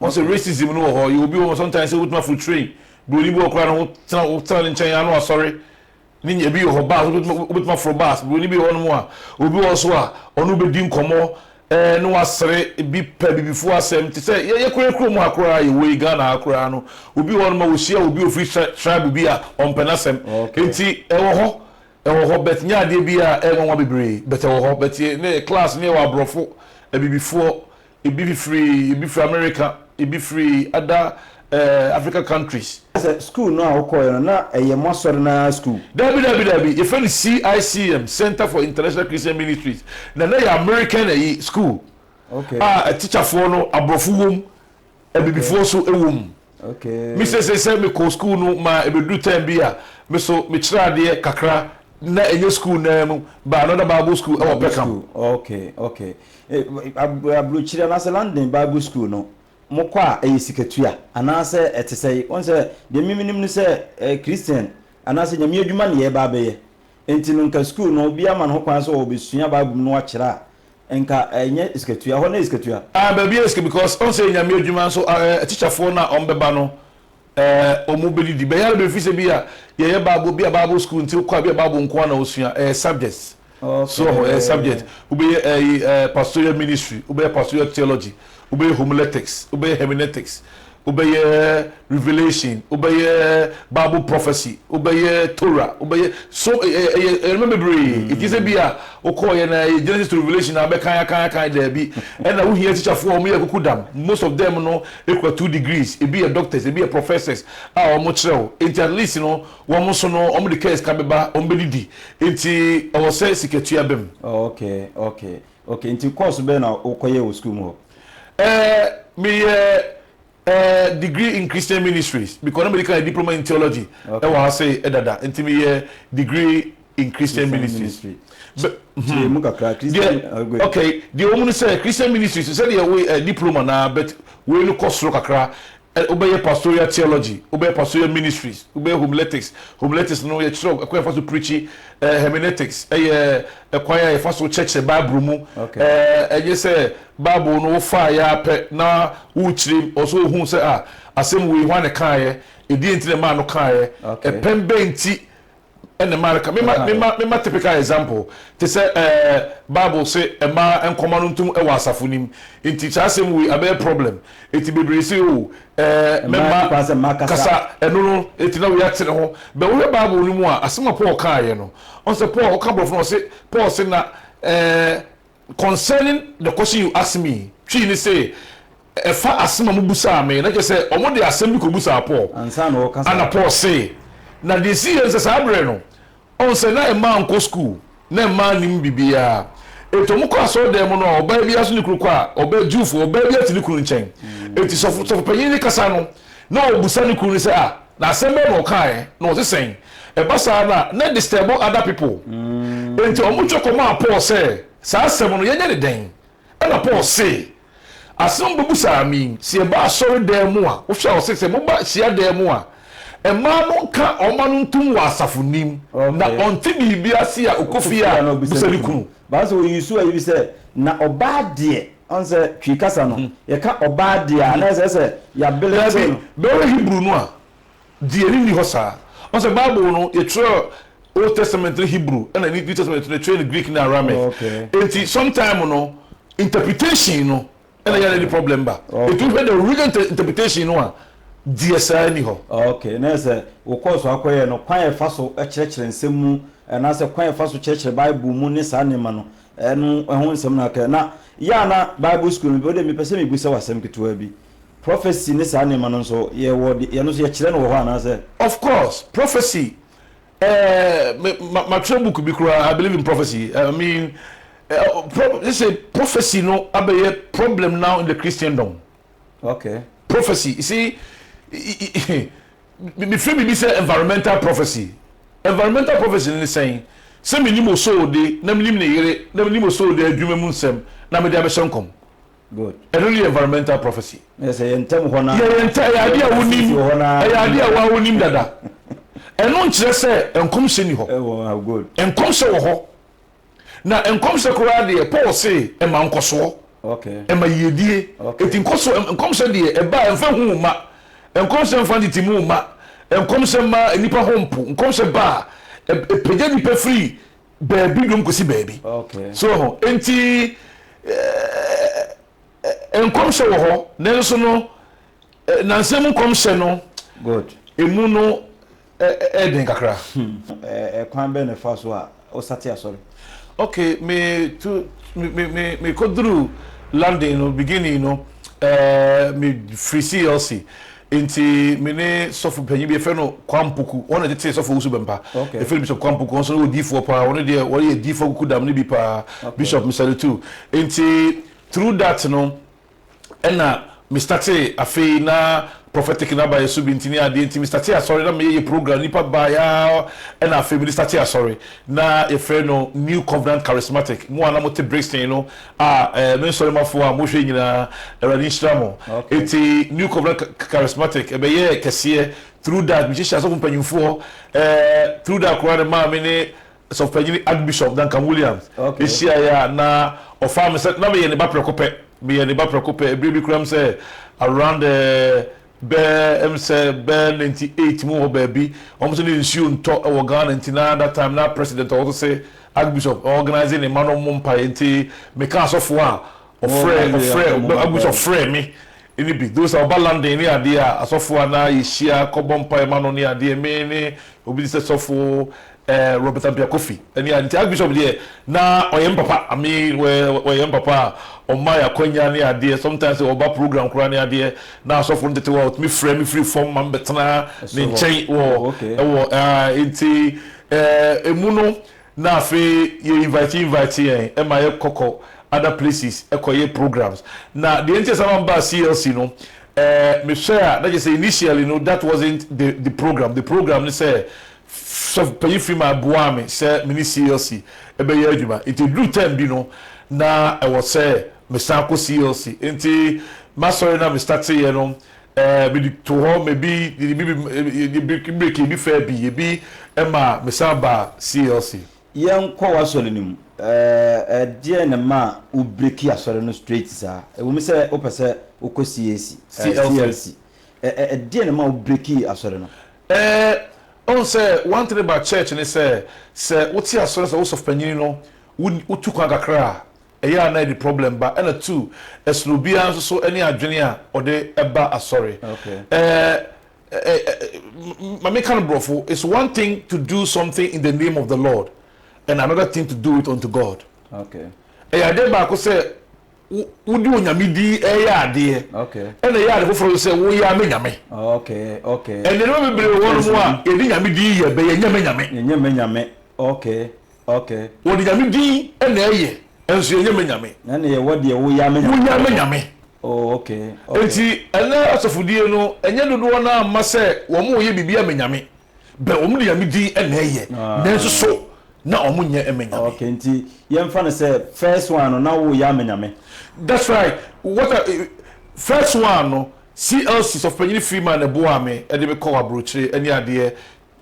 Wɔn sɛ racism no wɔ hɔ yɛ obi wɔ hɔ sometimes sɛ wobɛtumi aforo train broni bi wɔ hɔ koraa no wo tena wo tena ne nkyɛn yɛ ano asɔre ne nya ebi wɔ hɔ bus wobɛtumi wobɛtumi aforo bus broni bi wɔ hɔ nom a obi wɔ hɔ so a ɔno bɛdi nkɔmɔ ɛɛ ne wasere bi pɛ bibifoɔ asɛm te sɛ yɛ yɛ koraa kurom ha koraa yɛ wei Ghana ha koraa no obi wɔ hɔ nom a wɔhyia obi ofiri tri tribe bi a ɔmpɛ n'asɛm okay. nti ɛwɔ hɔ ɛwɔ hɔ but nyɛ adeɛ bi a ɛyɛ nwanwa bebree but ɛwɔ hɔ but yɛ ne class ne yɛ wɔ aborɔfo abibifoɔ Ebi fifiri ebi firi America, ebi firi other eh, Africa countries. Sɛ school no a wokɔɔɛ no na ɛyɛ mo asɔre no ara school? Daabi daabi daabi, yɛfrɛ no CICM, Center for International Christian Ministries, na na ɛyɛ American ɛyi school Okay. a teacherfoɔ no aborɔfo wɔ mu Abibifoɔ so wɔ mu. Me seesei sɛ mekɔ sukuu no ma ɛbɛduru tɛm bi a, me nso mekyerɛ adeɛ kakra na ɛnyɛ sukuu no ara mu, but another Bible school wɔ Peckham. Okay, okay. Aburokyire anaasɛ London Bible School no, mokɔ a ɛyɛ sikatua anaasɛ ɛte sɛn? Wohu sɛ deɛ me menim ne sɛ ɛyɛ Christian anaasɛ Nyame adwuma na yɛreba abɛyɛ. Enti no nka sukuu no obiara ma no ho kwan sɛ ɔbɛsua Bible mu na wakyerɛ a, nka ɛnyɛ sikatua, hɔ no yɛ sikatua. Ah baabi yɛ sika because ɔn sɛ Nyame adwuma nso ah eh teacherfoɔ no a wɔn bɛba no eh wɔn bɛdidi. Bɛyɛ ara bɛfiri sɛ bi a yɛyɛ Bible bi a Bible sukuu nti wokɔ a bi a Bible nko ara na wosua, ɛyɛ subjects. So ɔho ɛyɛ Okay. subject, wobɛyɛ ɛyi eh pastoral ministry, wobɛyɛ pastoral theology, wobɛyɛ homiletics, wobɛyɛ hermeneutics, wobɛyɛ revelation, wobɛyɛ bible prophecy, wobɛyɛ torah, wobɛyɛ so ɛyɛ ɛyɛ ɛyɛ nneɛma bebree eti sɛ bi a wokɔɔyɛ na ɛyɛ genesis to revelation na abɛkan akan akan daabi ɛna wohia tikyafoɔ a wɔn yɛ kuku dam most of them no ekura two degrees ebi yɛ doctors ebi yɛ professors a wɔn kyerɛw eti at least no wɔn nso no wɔn de kɛs ka bɛba wɔn bɛdidi eti ɛwɔ sɛ sikatua bɛm. Oh, okay okay Okay, nti course bɛn na wo kɔ yɛ wɔ school mu hɔ? Eh, me yɛ eh, degree in Christian ministries, because na me de kan yɛ diploma in theology okay. ɛwɔ ha se ɛdada, nti me yɛ degree in Christian, Christian ministries. Ministry. kyerɛ mu kakra christian agbe okay deɛ wɔn mu no sɛ christian ministries sɛ deɛ wei ɛ diploma na but wei no kɔ soro kakra Ɛ Wobɛyɛ Pastoral Theology, wobɛyɛ Pastoral Ministries, wobɛyɛ Homiletics, Homiletics no yɛkyerɛ wo kwan a yɛfa so preachi, ɛ Hermeneutics yɛ kwan a yɛfa so kyerɛkyerɛ Bible mu, ɛ ɛnyɛ sɛ Bible no wofaeɛ ara pɛ na worekyerɛ mu, ɛwɔ sɛ wohu sɛ ah asɛm wei hwan na ɛkaeɛ, ɛdeɛn nti na ɛmaa no kaeɛ, ɛpɛn bɛn nti ɛne mmaa ka mema mema mema typical example te sɛ ɛɛ eh, bible se mmaa nkɔma no ntom ɛwɔ asafo nim nti saa asɛm wei abɛyɛ problem eti bebree se o oh, ɛɛ eh, mɛma kasa ɛno no eti na wei atene ho bɛn wohwɛ bible no mu a asɛm a paul kaayɛ no ɔn sɛ paul ɔka borɔfo no ɔse paul se na ɛɛ eh, Concerning the question you asked me, Twi ne se, ɛfa asem a mobusaa me, na kyerɛ sɛ wɔde asem bi kɔbusaa Paul, ɛna Paul se, Na deɛ ɛsiiɛ ne sɛ, saa berɛ no, ɔhu sɛ na mmaa nkɔ sukuu, na mmaa nnim biribiara. Enti wɔkɔ asɔredan mu no a, ɔbaa biara so ne kunu kɔ a, ɔbaa, Jewfoɔ, ɔbaa biara te ne kunu nkyɛn. Enti sɔfo, sɔfopanyin no kasa no, na ɔbusa ne kunu no sɛ, Ah, Na asɛm bɛn na ɔkaeɛ? Na ɔse sɛn? Ɛba saa no a, na ɛdisturb other people. Enti wɔtwerɛ kɔmaa Paul sɛ, Saa asɛm no, yɛnyɛ no dɛn? Ɛnna Paul se, Asɛm a mobebusaa me yi, sɛ yɛba asɔredan mu a, wohwɛ a ɔse sɛ moba hyiadan mu a, mmaa no nka wɔn ano ntom wɔ asafo anim, na ɔnte biribi ase a ɔkɔ fie a, ɔbisa ne kunu. But wo sɛ ɔ use ayi bi sɛ, na ɔbaa deɛ. Ɔn sɛ Twi kasa no, yɛka ɔbaa de a, na ɛsɛ sɛ yɛabele to no. Daabi, bɛhwɛ Hebrew no a, deɛ ne nni hɔ saa. Ɔn sɛ Bible no, yɛtwerɛ Old Testament no Hebrew, ɛna New Testament no, yɛtwerɛ no Greek ne Aramaic. Enti, sometime no, interpretation no na ɛyɛ a na ɛde problem ba. Enti, wohwɛ the original interpretation no a, deɛ saa nni hɔ. Ok, na ɛsɛ sɛ wokɔɔ so ara kɔyɛɛ no. Kwan a yɛfa so kyerɛkyerɛ nsɛm mu, anaasɛ kwan a yɛfa so kyerɛkyerɛ Bible mu ne saa nneɛma no, Ɛno ho nsɛm na aka. Na yɛ a na Bible sukuu no, wo de mepɛ sɛ mibisa wo asɛm ketewaa bi. Prophecy ne saa nneɛma no nso, yɛwɔ de, ɛno nso yɛkyerɛ no wɔ hɔ anaasɛ? Of course, prophecy, eh, me, ma, matwerɛ book bi koraa, I Believe in Prophecy. I mean, eh, pro, sɛ prophecy no abɛyɛ problem now in the Christendom. Okay. Prophecy, you see, me feel me be say environmental prophecy. Environmental prophecy ne sɛn? Sɛ menim osoode na menim ne yere na menim osoode adwuma mu nsɛm na mede abɛhyɛ nkɔm. Good. Ɛno ne yɛ environmental prophecy. Yɛ sɛ yɛ ntɛm hɔ na. Yɛ yɛ ntɛ ɛyɛ adeɛ a wonim ɛyɛ adeɛ a wonim dada. Ɛno nkyerɛ sɛ nkɔmhyɛ ni hɔ. Nkɔmhyɛ wɔ hɔ. Na nkɔmhyɛ koraa deɛ, Paul se ɛma nkɔsoɔ, ɛma yiedie. Enti nkɔsoɔ, nkɔmhyɛ deɛ, ɛba a ɛmfa hu wo mma. Nkɔmhyɛ mfa ntetem wo mma. Nkɔmhyɛ mma nnipa ho mpo. Nkɔmhyɛ ba a, ɛpagya nnipa firi baabi dom kɔsi baabi. So wɔ ho? Enti nkɔmhyɛ wɔ hɔ, nanso no, nnansa mu nkɔmhyɛ no, emu no, Ɛyɛ den kakra. Kwan bɛn na ɛfa so a wosate asɔre? Ok, me tu, me, me, me, me kɔ duru London no, beginning no, ɛɛ, me firi CLC, nti me ne sɔfo panyin bi yɛfrɛ no Kwampuku, wɔn na ɛtetee sɔfo Owusu Bɛmpa, okay. yɛfrɛ no Bishop Kwampuku, wɔn nso no wɔ diifoɔ paa, wɔn deɛ wɔyɛ diifoɔ kuku dam no bi paa, okay. Bishop Misalitu, nti through that no. ɛna me startee afei na prophetic no aba yɛ so bi nti ne adeɛ nti me startee asɔre na meyɛ yɛ program nipa baa yɛ ara ɛna afei mede startee asɔre na yɛfrɛ no new covenant charismatic mo a na mote brixton no a ɛɛ me nsɔremafoɔ a mohwɛ nyinaa awurade nhyira mo Okay. eti new covenant Cha- charismatic ɛbɛyɛ kɛseɛ through that mehyehyɛ asɔfo mpanyinfoɔ ɛɛ through that koraa ne maa me ne Sɔfopanyin Archbishop Duncan Williams hyiae a na ɔfaa me sɛ na meyɛ ne ba prɛko pɛ. Meyɛ ne ba prɛko pɛ. Bere bi koraa sɛ around eh, bɛ em sɛ bɛ ninety eight mu hɔ baabi, wɔn sɛ na nsuo ntɔ wɔ Ghana nti na that time na President a ɔwɔ so se Archbishop ɔorganise ne mma no mmɔ mpaeɛ nti meka asɔfoɔ a Ɔfrɛ ɔfrɛ obi ɔfrɛ me ne bi those a ɔba London ne adeɛ a asɔfoɔ a na yɛhyia kɔbɔ mpaeɛ ma no ne adeɛ me ne obi te sɛ sɔfo eh, Robert Ampia Kofi ɛne a nti Archbishop deɛ na ɔyɛ me papa I mean ɔyɛ me papa a ɔma yɛ akwanya ne adeɛ sometimes sɛ ɔba program koraa ne adeɛ na asɔfo no tete hɔ a ɔtumi frɛ me firi fam ma mebɛtena ne nkyɛn wɔ ɛwɔ ah, nti eh, emu no Na afei yɛ invite invite yɛn ma yɛ kɔ kɔ other places kɔ yɛ programs. Na deɛ nti a saa ma me baa CLC no eh me hwɛ a na kyerɛ sɛ initially no that wasn't the the program. The program ne sɛ sɔfo panyin Freeman boaa me sɛ me ne CLC bɛ yɛ adwuma. Nti ɛduru term bi no na ɛwɔ sɛ me san kɔ CLC. Nti m'asɔre no a me start yɛ no Ɛɛ, mede too hɔ ma ebi yɛde bi yɛde breki breki ebi faa bi ebi ma mesan baa CLC. Yɛnkɔ w'asɔre no mu. Ɛɛ, ɛdeɛn na ɛmaa wo breki asɔre no straight saa? Ɛwom sɛ wopɛ sɛ wokɔ CAC, ɛɛ, CLC. CLC. Ɛ ɛ ɛdeɛn na ɛmaa wo breki asɔre no? Ɛɛ, wohu sɛ one thing about church ne sɛ, sɛ wote asɔre no sɛ wo sɔfopanyin no, wo wotu kwan kakra a, ɛyɛ a na ɛde problem ba ɛna two ɛsono obiara nso so ɛne adwene a ɔde ɛba asɔre ɛɛ mame ka no borɔfo it's one thing to do something in the name of the Lord and another thing to do it unto God ɛyɛ adeɛ baako sɛ wode onyame di ɛyɛ adeɛ ɛna ɛyɛ ade foforɔ sɛ woyɛ ama nyame ɛnneɛma bebree wɔ no mu a yɛde nyame di yɛ bɛ yɛnyɛ mɛ nyame Okay. Wɔde nyame din na ɛyɛ nso yɛnyɛ me nyame. Na na yɛwɔ deɛ woyɛ me nyame. Woyɛ me nyame. Oh okay. Okay. Nti ɛnɛ asɔfodie no ɛnyɛ dodoɔ naa mma sɛ wɔn yɛ biribi a me nyame bɛ wɔn de nyame din na ɛyɛ nanso so na wɔn nyɛ me nyame. Okay nti yɛnfa no sɛ first one no na woyɛ me nyame. That's right what a first one no CLC sɔfopanyini Freeman na ɛboaa me ɛde me kɔɔ abrokyire ɛne adeɛ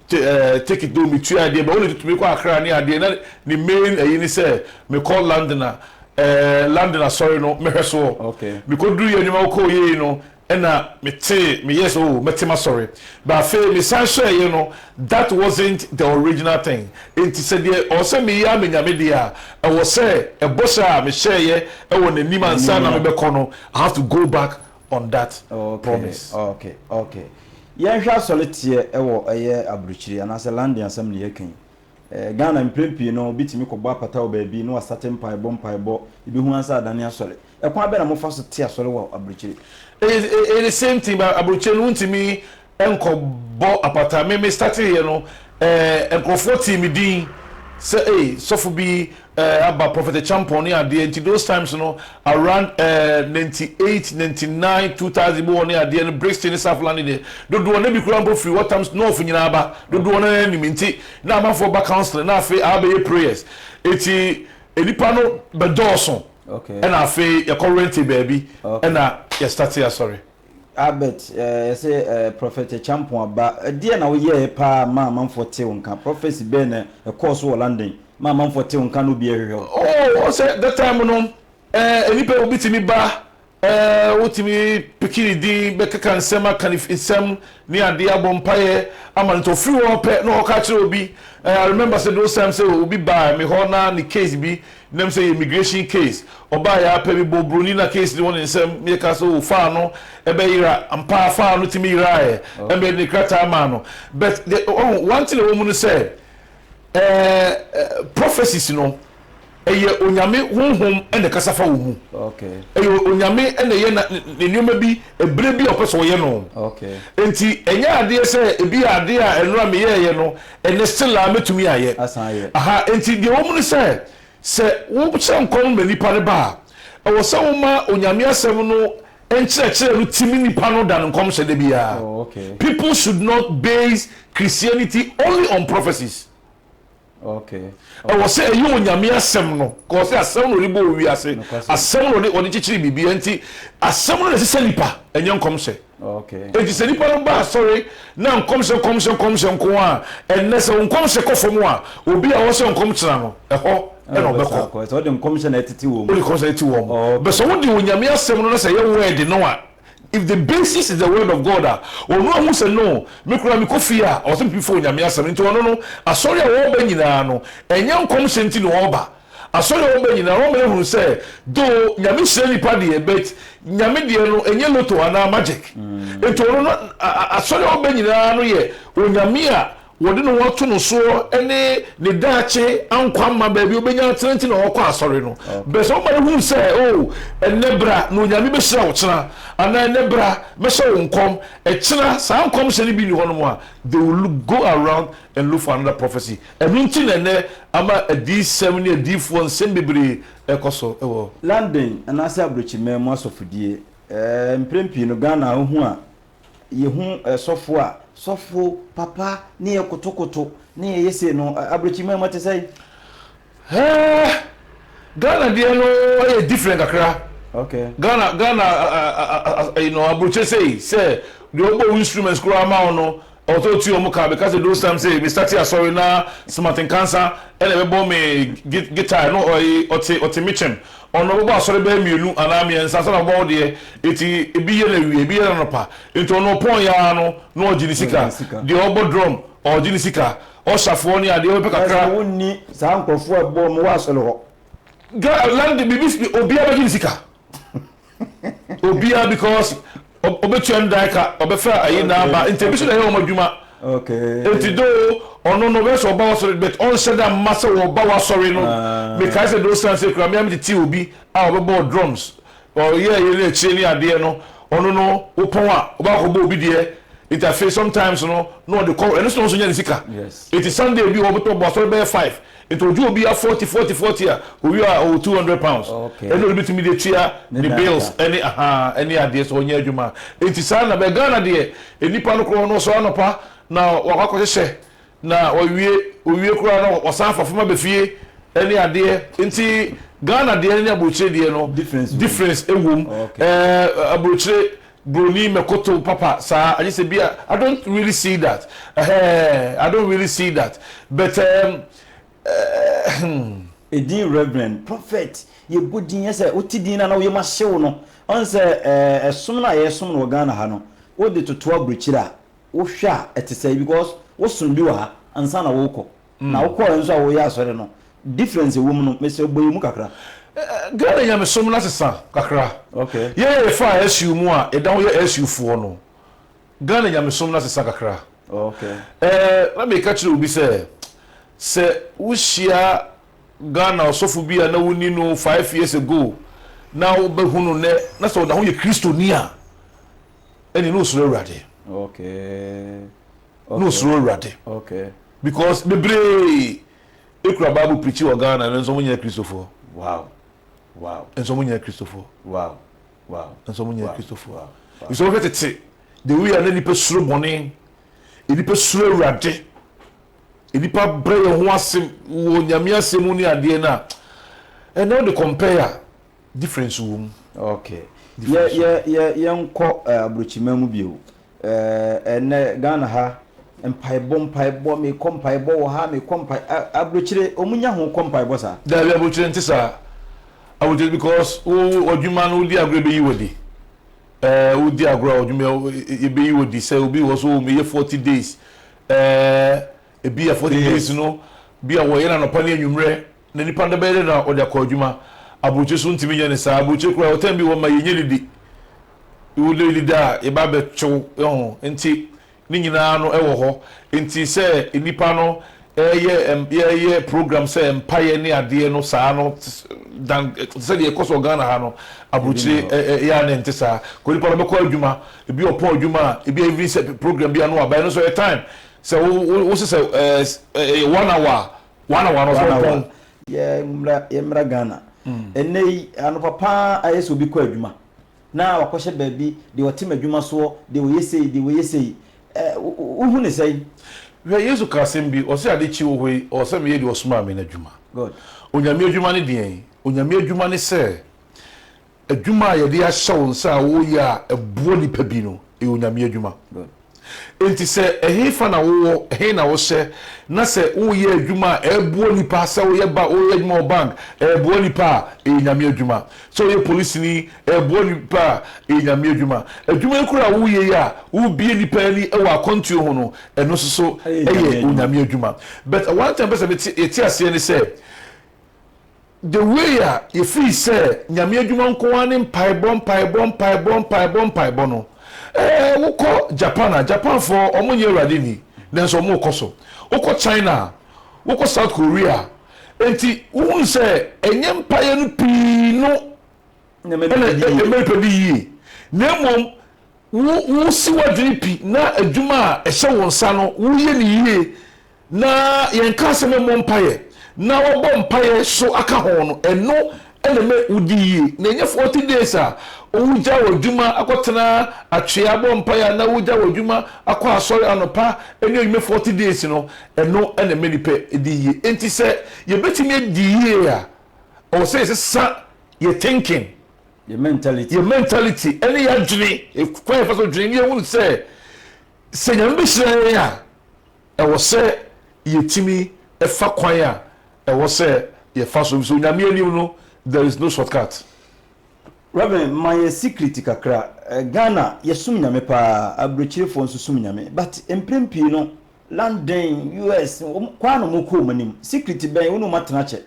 ticket no mu, metua adeɛ, bɛ wo na ɛtutu me kɔ Accra ne adeɛ, na ne main ayi ne sɛ mekɔ London a, ɛɛ London asɔre no mɛhwɛ soɔ. Mekɔduru yɛ nneɛma kɔɔ yie no ɛna metee, meyɛɛ sɛ oh mɛte m'asɔre. But afei mesan hwɛɛeɛ no, that wasn't the original thing. Enti sɛ deɛ ɔwɔ sɛ meyɛ ara me Nyame deɛ a, ɛwɔ sɛ ɛbɔhyɛ a mehyɛɛeɛ wɔ n'anim ansa na mebɛkɔ no, I have to go back on that promise. Okay, okay, okay. Yɛnhwɛ asɔreteɛ ɛwɔ ɛyɛ aburukyire anaasɛ London asɛm na yɛka yi. Eh, Ghana mprɛn pii no obi tumi kɔbɔ apata wɔ baabi na wasate mpaebɔ mpaebɔ ebihu ansa adane asɔre. Ɛkwan bɛn na mofa so te asɔre wɔ aburukyire? Ɛyɛ the same thing but aburukyire no wontumi nkɔbɔ apata me me starting yɛ no eh nkorɔfoɔ tee me din sɛ ei sɔfo bi eh aba prophet acheampong ne adeɛ nti those times no around eh ninety eight ninety nine two thousand mu hɔ ne adeɛ no brixton ne south london deɛ dodoɔ na bi koraa mpo firi watams north nyinaa ba dodoɔ no ara nim nti na amanfoɔ ba counselling na afei aba bɛyɛ prayers nti nnipa no bɛdɔɔso okay ɛna afei yɛkɔ rente baabi okay ɛna yɛ startee asɔre. Albert, yɛse Prophet Acheampong Aba, ɛdeɛn na woyɛɛ paa maa amanfoɔ tee wo nka? Prophecy bɛn na ɛkɔɔ so wɔ London maa amanfoɔ tee wo nka na obiara hwehwɛ wo? Oh, wohu sɛ that time no, eh, nnipa obi tumi ba, eh, wotumi piki ne din bɛkeka nsɛm aka ne nsɛm ne adeɛ abɔ mpaeɛ ama no nti ɔfiri hɔ pɛ na ɔkɔka akyerɛ obi, eh, I remember sɛ those times sɛ obi baa me hɔ na ne case bi Na me sɛ yɛ immigration case ɔbaeɛ ara pɛ me bɔɔ broni no a case no wɔ ne nsam me ka sɛ oh faa no ɛbɛ yera ampa ara faa no tumi yeraeɛ ɛna me de ne krataa maa no but the ɔhu one thing a ɛwɔ mu no sɛ ɛɛ prophecies no ɛyɛ onyame honhom ɛna ɛkasa fa wɔ mu okay ɛyɛ onyame ɛna ɛyɛ na ne ne nneɛma bi ɛberɛ bi a ɔpɛ sɛ ɔyɛ no okay nti ɛnyɛ adeɛ sɛ ebi yɛ adeɛ a ɛno a meyɛɛyɛ no Ɛnnɛ still a mɛtumi ayɛ. Asan ayɛ. Aha nti deɛ ɛwɔ mu ne sɛ, sɛ wo hyɛ nkɔm ma nipa no ba a, ɛwɔ sɛ wo ma Onyame asɛm no nkyerɛkyerɛ no timi nipa no than nkɔmhyɛ da biara. Oh okay. People should not base Christianity only on prophecies. Okay. Ɛwɔ sɛ ɛyɛ Onyame asɛm no, cause asɛm na ɔde bɔɔ wiase, Nokwasɛm. asɛm na ɔde ɔde kyekyere biribiara nti asɛm no na ɛsesa nipa, ɛnyɛ nkɔmhyɛ. Enti sɛ nnipa no ba asɔre na nkɔmhyɛ nkɔmhyɛ nkɔmhyɛ nko ara a, ɛnnɛ sɛ wo nkɔmhyɛ kɔ fam a, obi a ɔhyɛ nkɔm kyena no, ɛhɔ na ɔbɛkɔ. Wode nkɔmhyɛ na ɛtete wɔn. Wode nkɔmhyɛ na ɛtete wɔn. But sɛ wode Onyame asɛm no na sɛ ɛyɛ word no a, if the basis is the word of God a, ɔno ahu sɛ no, me koraa mekɔ fie a, ɔsɛ mepepa Onyame asɛm no. Enti ɔno no, asɔre a ɔreba nyinaa no, ɛnyɛ nkɔmhyɛ nti na ɔreba. Asɔre hɔ mba nyina hɔn mberɛ hunu sɛ though Nyame hyira nipa deɛ but Nyame deɛ no ɛnyɛ lotto anaa magic nti ɔno no Asɔre hɔ mba nyinaa no yɛ Onyame a wɔde ne ho ato no soɔ ne ne daakye ankwa mma baabi ɔbɛnya atena nti na wɔkɔ Asɔre no bɛ sɛ wo mba no hunu sɛ oh ɛnɛ bra na Onyame bɛhyira wo kyena anaa ɛnɛ bra mɛhyɛ wo nkɔm ɛkyena saa nkɔmhyɛ no bi nni hɔnom a they will go around and look for another prophecy Ɛno nti na ɛnnɛ ama adiyisɛm ne adiyifoɔ nsɛm bebree rekɔ so wɔ. London anaasɛ Abrokyiman mu asɔfodie. Mprɛn pii no Ghana wohu a, yɛhu sɔfo a. Sɔfo papa ne yɛ kotokoto ne yɛyɛ sei no, Abrokyiman mu ɛte sɛn? Hɛɛ! Ghana deɛ no yɛ different kakra. Okay. Ghana, Ghana, you know, Abrokyire sei sɛ deɛ ɔbɔ wo instruments koraa ma wo no, Ɔtɔ otua ɔmo ka. Meka sɛ those times ee me starte asɔre na Smart Nkansa ɛna ɛbɛbɔ me guitar no ɔye ɔte ɔte me kyɛm ɔno ɔbɛbɔ asɔre bɛyɛ mmienu anaa mmiɛnsa ansa na wabɔ wo deɛ eti ebi yɛ no awia ebi yɛ no anɔpa enti ɔno ɔpɔn yɛ ara no na ɔgye ne sika deɛ ɔbɔ drum ɔgye ne sika ɔshafoɔ ne adeɛ ɔbɛpɛ kakra. Ɛsɛ wonni saa nkorɔfoɔ a ɛbɔ ɔmo wɔ asɔre hɔ. Ga land biribi obiara bɛgye ne sika. Obiara because ɔbɛtua no dan ka ɔbɛfa ayi na aba nti ebi so na ɛyɛ wɔn adwuma. Nti do ɔno no ɔbɛyɛ sɛ ɔba w'asɔre but ɔnhyɛ da mma sɛ wɔba w'asɔre no. Ah. Mekae sɛ do san sɛ kura mmea metete obi a ɔbɛbɔɔ drums ɔyɛ ɛyɛ ne akyire ne adeɛ no ɔno no wopɔn a ɔba akɔbɔ obi deɛ nti afei sometimes no na ɔde kɔ ɛno so na ɔnso nya ne sika. Yes. Nti Sunday bi ɔbɛtɔ bɔ asɔre bɛyɛ five Nti ɔgye obiaa forty forty forty a ɔwie a ɔwɔ two hundred pounds ɛna ɔde bɛtumi de atua ne bills ɛne ahaa ɛne adeɛ sɛ ɔnyɛ adwuma a nti saa na but Ghana deɛ nnipa no korɔ no ɔsɔre anɔpa na wakɔ akɔ hyehyɛ na wawie ɔwie koraa na wasan afa fam aba fie ɛne adeɛ nti Ghana deɛ ne aburokyire deɛ no difference ɛwɔ mu ɛɛ aburokyire Broni mɛkotow papa saa agye sɛ bi a I don't really see that eh I don't really see that but um, eh, hmm. Edin Reverend, Prophet, yɛbɔ din yɛ sɛ wote din no a na wo yam ahye wo no. Ɔn sɛ eh, ɛsom no a yɛsom no wɔ Ghana ha no, wode toto aburokyire a, wohwɛ a ɛte sɛe because wosom bi wɔ ha ansa na worekɔ. na wokɔɔɛ nso a woyɛ asɔre no difference a ɛwɔ mu no mesrɛ bɔ yɛn mu kakra. Ghana nyamesom no asesa kakra. Yɛn a yɛfaa SU mu a yɛda ho yɛ SU foɔ no, Ghana nyamesom no asesa kakra. Ɛɛ na meka kyerɛ obi sɛ, sɛ wohyia Ghana ɔsɔfo bi a na wonni no five years ago na wobɛhu no nnɛ na sɛ ɔda ho yɛ Kristoni a, ɛnneɛ na ɔsuro Awurade. na osuro Awurade because bebree ekura bible preachi wɔ Ghana nanso wɔn nyɛ akristofoɔ nanso wɔn nyɛ akristofoɔ nanso wɔn nyɛ akristofoɔ nso wɔhwɛ tete the way a na nipa suro bɔne nipa suro Awurade nipa brɛ yɛn ho ase wɔ nyame asɛm mu ne adeɛ na ɛnna wɔde compare a difference wɔ mu. okay yɛ yɛ yɛ yɛn kɔ eh, aburokyima mu bio. Eh, ɛnnɛ Ghana ha, mpaebɔ, mpaebɔ, mekɔ mpaebɔ wɔ ha, mekɔ mpae, a, abrokyire, wɔn nya ho kɔ mpaebɔ saa? Daabi, abrokyire nte saa. Abrokyire, because wo, wo, adwuma no, wodi agorɔ a ebeyi wo adi. Eh, wodi agorɔ a ɔdwuma, e, ebeyi wo adi. Sɛ obi wɔ hɔ sɛ, oh, meyɛ forty days. Eh, ebi a forty days no, bi a wɔyɛ no anɔpa ne anwummerɛ. na nipa no bɛyɛ dɛ na ɔde akɔ adwuma. Aburokyire so ntumi nyɛ ne saa. Aburokyire koraa yɛwɔ time bi wɔma yɛnyɛ didi. Wo dɛ didi a yɛba abɛtwe wo ho. Nti ne nyinaa no ɛwɔ hɔ. Nti sɛ nnipa no ɛɛyɛ yɛɛyɛ program sɛ mpaeɛ ne adeɛ no saa no dan sɛdeɛ ɛkɔ so wɔ Ghana ha no aburokyire ɛyɛ a na ɛnte saa. Kɔ nipa no ɔbɛkɔ adwuma. Ebi ɔpɔn adwuma a ebi a evening sɛ program bi a na wabae. Ɛno nso ɛyɛ time. Sɛ wo wo wo se sɛ ɛɛ ɛyɛ one hour a Wana wana ɔsɛ ɔpɔn. Yɛ mmra yɛ mmra Ghana. Ɛnnɛ yi anɔpa paa ayɛ sɛ obi kɔ adwuma na wakɔhyɛ baabi deɛ ɔtem adwuma soɔ deɛ ɔyɛ sei deɛ ɔyɛ sei ɛɛ wo hu ne sɛn. Hwɛ Yesu ka asɛm bi ɔse ade kye wɔ hɔ yi ɔwɔ sɛ meyɛ deɛ ɔsomaa me no adwuma. Good. Onyame adwuma ne deɛn? Onyame adwuma ne sɛ Adwuma a yɛde ahyɛ wo nsa a woyɛ a ɛboa nnipa bi no, ɛyɛ Onyame adwuma. Enti sɛ ɛhefa na wowɔ, ɛhe na wohyɛ, na sɛ woreyɛ adwuma a ɛboa nnipa, sɛ woyɛ ba, woyɛ adwuma wɔ bank, ɛboa nnipa a, ɛyɛ Nyame adwuma. Sɛ woyɛ polisini, ɛboa nnipa a, ɛyɛ Nyame adwuma. Adwuma yi koraa a woreyɛ yi a worebue nnipa ani wɔ akwantuo ho no, ɛno nso so ɛyɛ Onyame adwuma. But one thing a mepɛ sɛ yɛte aseɛ ne sɛ, The way a yɛfiri sɛ Nyame adwuma nko ara ne mpaebɔ, mpaebɔ, mpaebɔ, mpaebɔ, mpaebɔ no, eh, wokɔ Japan a, Japanfoɔ wɔn nyɛ Awurade nni, nanso wɔn rekɔ so. Wokɔ China a, wokɔ South Korea a, enti wohunu sɛ ɛnyɛ mpaeɛ no pii no na Amerika di yie, na mmom wo, wosi w'adwene pi na adwuma a ɛhyɛ wo nsa no, woyɛ no yie Na yɛnkaa sɛ memmɔ mpaeɛ na wɔbɔ mpaeɛ so aka ho no, ɛno na ɛma wodi yie. Na ɛnyɛ forty days a wogya w'adwuma akɔtena atwea bɔ mpaeɛ anaa wogya w'adwuma akɔ asɔre anɔpa ne anwummerɛ forty days no, ɛno na ɛma nnipa di yie. Enti sɛ yɛbɛtumi adi yie a, ɛwɔ sɛ yɛsesa yɛn thinking, Yɛn mentality. yɛn mentality ne yɛn adwene, kwan a yɛfa so dwene, na yɛhunu sɛ, sɛ Nyame bɛhyira yɛn a, Ɛwɔ sɛ yɛtumi fa kwan a ɛwɔ sɛ yɛfa so, ɛfiri sɛ Onyame anim no there is no short cut. Rev. Ma yɛ secret kakra. Ghana yɛsom Nyame paa, abrɛkyirefoɔ nso som Nyame but mprɛn pii no London, US, kwan ara na wɔn kɔ wɔn anim. Secret bɛn wo ne wɔn atena akyɛ?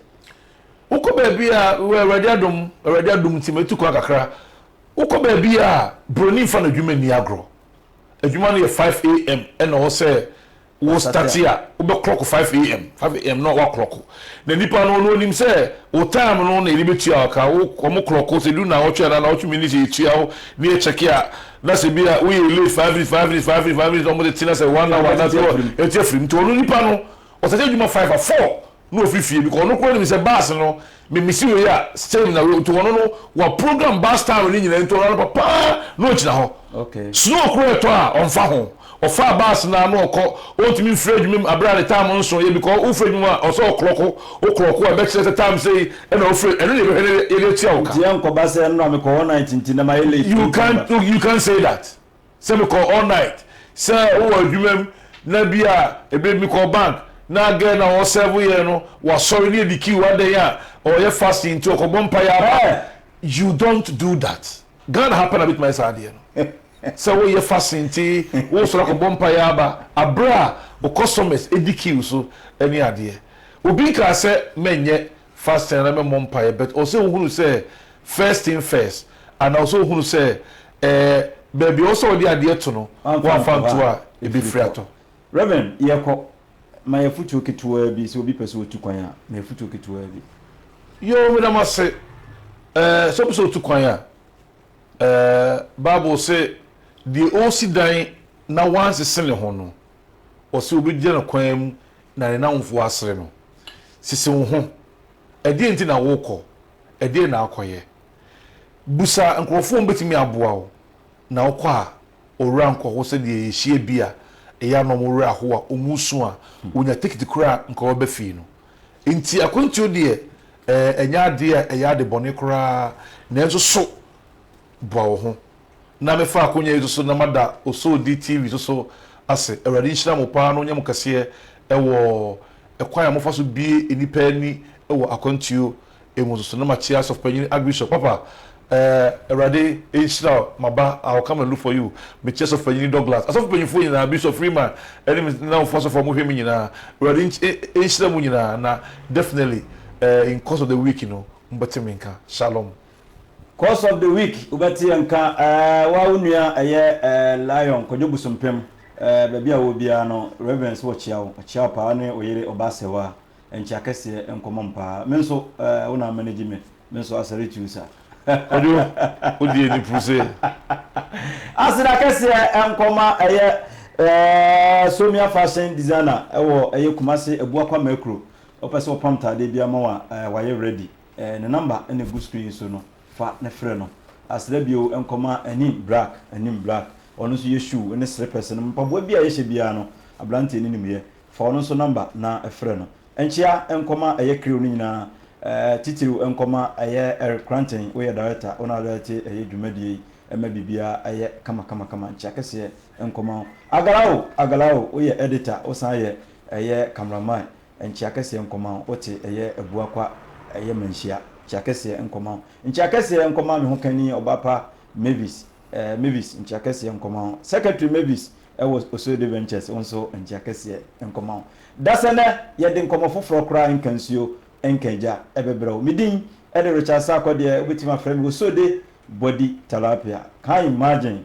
Wokɔ baabi a, wɔ Awurade adom, Awurade adom nti matu kwan kakra, wokɔ baabi a Broni mfa n'adwuma nni agorɔ. adwuma no yɛ five AM ɛna ɔwɔ sɛ wo start a wo bɛ clock five AM five AM na wa clock na nipa no no onim sɛ wo time no na yɛde bɛ tua ɔka wo ɔmo clock sɛ du na ɔtwe anaa na ɔtwe minutes yɛ tua wo ne yɛ check a na sɛ bi a wo yɛ late five minutes five minutes five minutes five minutes na ɔmo de te na sɛ one hour na so ɛte afirim nti ɔno nipa no ɔsɛ sɛ adwuma five a four. na ofi fie because ɔno koraa nim sɛ bus no me misi wei a same na wei nti ɔno no wa program bus time ne nyinaa nti ɔno anɔpa paa na ogyina hɔ snow koraa ɛtɔ a ɔnfa ho ɔfaa bus no na ɔkɔ ɔntumi mfiri adwuma mu abere a ne time nso yɛ because wofiri adwuma mu a ɔsɛ ɔkorɔko okorɔko a ɛbɛkyerɛ sɛ time sɛ ɛna ofiri ɛno na ɛbɛhwɛ na yɛde atua wo ka. Nti ɛnkɔba sɛ ɛno na mekɔ hɔ night nti na mayɛ late. You can, you can say that. Sɛ mekɔ all night sɛ wowɔ adwuma mu na bi a ebi mekɔ bank na girl no a ɔ serve yɛn no wasɔre na yɛdi queue adɛn a ɔyɛ fasting nti ɔkɔ bɔ mpaeɛ ara a you don't do that Ghana ha pɛ na bɛtumi ayɛ saa adeɛ no sɛ woyɛ fasting nti wosɔre akɔ bɔ mpaeɛ aba aberɛ a wo customers di queue so ne adeɛ obi nkaa sɛ mɛnyɛ fasting anaa memmɔ mpaeɛ but ɔwɔ sɛ wohunu sɛ first thing first anaa ɔwɔ sɛ wohunu sɛ ɛɛ baabi a ɔwɔ sɛ ɔde adeɛ to no woamfa nto a ɛbɛfiri atɔ. Rev. Yɛkɔ, ma yɛn afotuo ketewaa bi, sɛ obi pɛ sɛ ɔtu kwan a, ma yɛn afotuo ketewaa bi. Yoo, meda mo ase. Ɛɛ, sɛ obi sɛ ɔtu kwan a, ɛɛ, Bible se deɛ ɔresi dan na wansese ne ho no, ɔse wɔbɛgyina no kwan mu na ne nnamfo asere no. Sisi wo ho. Ɛdeɛn nti na worekɔ? Ɛdeɛn na akɔyɛ? Bisa nkurɔfoɔ a wɔbɛtumi aboa wo, na wokɔ a, owura nkɔ hɔ sɛdeɛ yɛhyia bi a ɛyɛ a na wɔn werɛ ahow a wɔn resu a wɔnya tekiti koraa a nka wɔbɛba fie no. Enti akwantuo deɛ, ɛɛ, ɛnyɛ adeɛ a ɛyɛ adebɔne koraa, nanso so boa wo ho Na me fa akonya yi so so na ma da Osodi TV so so ase awurade nhyira mo paa na onyɛ mo kɛseɛ ɛwɔ ɛkwan a mo fa so bue nnipa ani ɛwɔ akwantuo ɛmu so so na ma kyea sɔfopanyini Archbishop papa ɛɛ awurade nhyira wo ma ba I will come and look for you me kyea sɔfopanyini Douglas asɔfopanyinfoɔ nyinaa Bishop Freeman ɛne me na mo fa sɔfo a mo hwɛ me nyinaa awurade nkye e ɛnhyira mo nyinaa na definitely ɛɛ in course of the week no mo bɛte me nka Shalom. Quotes of the week Wobɛteɛ nka eh Wo a wo nua a ɛyɛ eh Lion Kwadwo Bosompem eh Baabi a wowɔ biara no Reverence wɔkyea wo Ɔkyea wo paa Wone wo yere Ɔbaa Sewaa Nkyea kɛseɛ Nkɔmmɔ mu paa Me nso eh wo na amanage me Me nso I salute you sir. Kwadwo wo deɛ di puse. Aseda kɛseɛ Nkɔma ɛyɛ eh Somia Fashion Designer ɛwɔ ɛyɛ Kumasi Abuakwa Mɛkuro Ɔpɛ sɛ ɔpam ntaadeɛ biara ma wo a eh wayɛ ready. Ne number na ɛgu screen yi so no, fa na frɛ no. Asrɛ bio nkɔma Anim Black, Anim Black, ɔno nso yɛ shoe ne slippers nom mpaboa biara a yɛhyɛ biara no, abranteɛ no nim yɛ. Fa ɔno nso number na frɛ no. Nkyea nkɔma ɛyɛ crew no nyinaa, titiriw nkɔma ɛyɛ Eric Cranton, woyɛ director, wo na wo direct ɛyɛ dwumadie yi, ɛma biribiara ɛyɛ kama kama kama. Nkyea kɛseɛ nkɔma wo. Agala o, Agala o, woyɛ editor, wo san yɛ ɛyɛ camera man. Nkyea kɛseɛ nkɔma wo, wote, ɛyɛ abua kwa, ɛyɛ manhyia. Nkyea kɛseɛ nkɔma wo, nkyea kɛseɛ nkɔma me hokani ɔba pa Mavis, eh, Mavis, nkyea kɛseɛ nkɔma wo. Secretary Mavis wɔ Osode Ventures, wo nso nkyea kɛseɛ nkɔma wo. Dasɛ nɛ yɛde nkɔmɔ foforɔ koraa nka nsuo nka agya, ɛbɛbrɛ wo. Me din de Richard Sarkodie, wobɛtumi afrɛ me Osode Body Tilapia, can you imagine?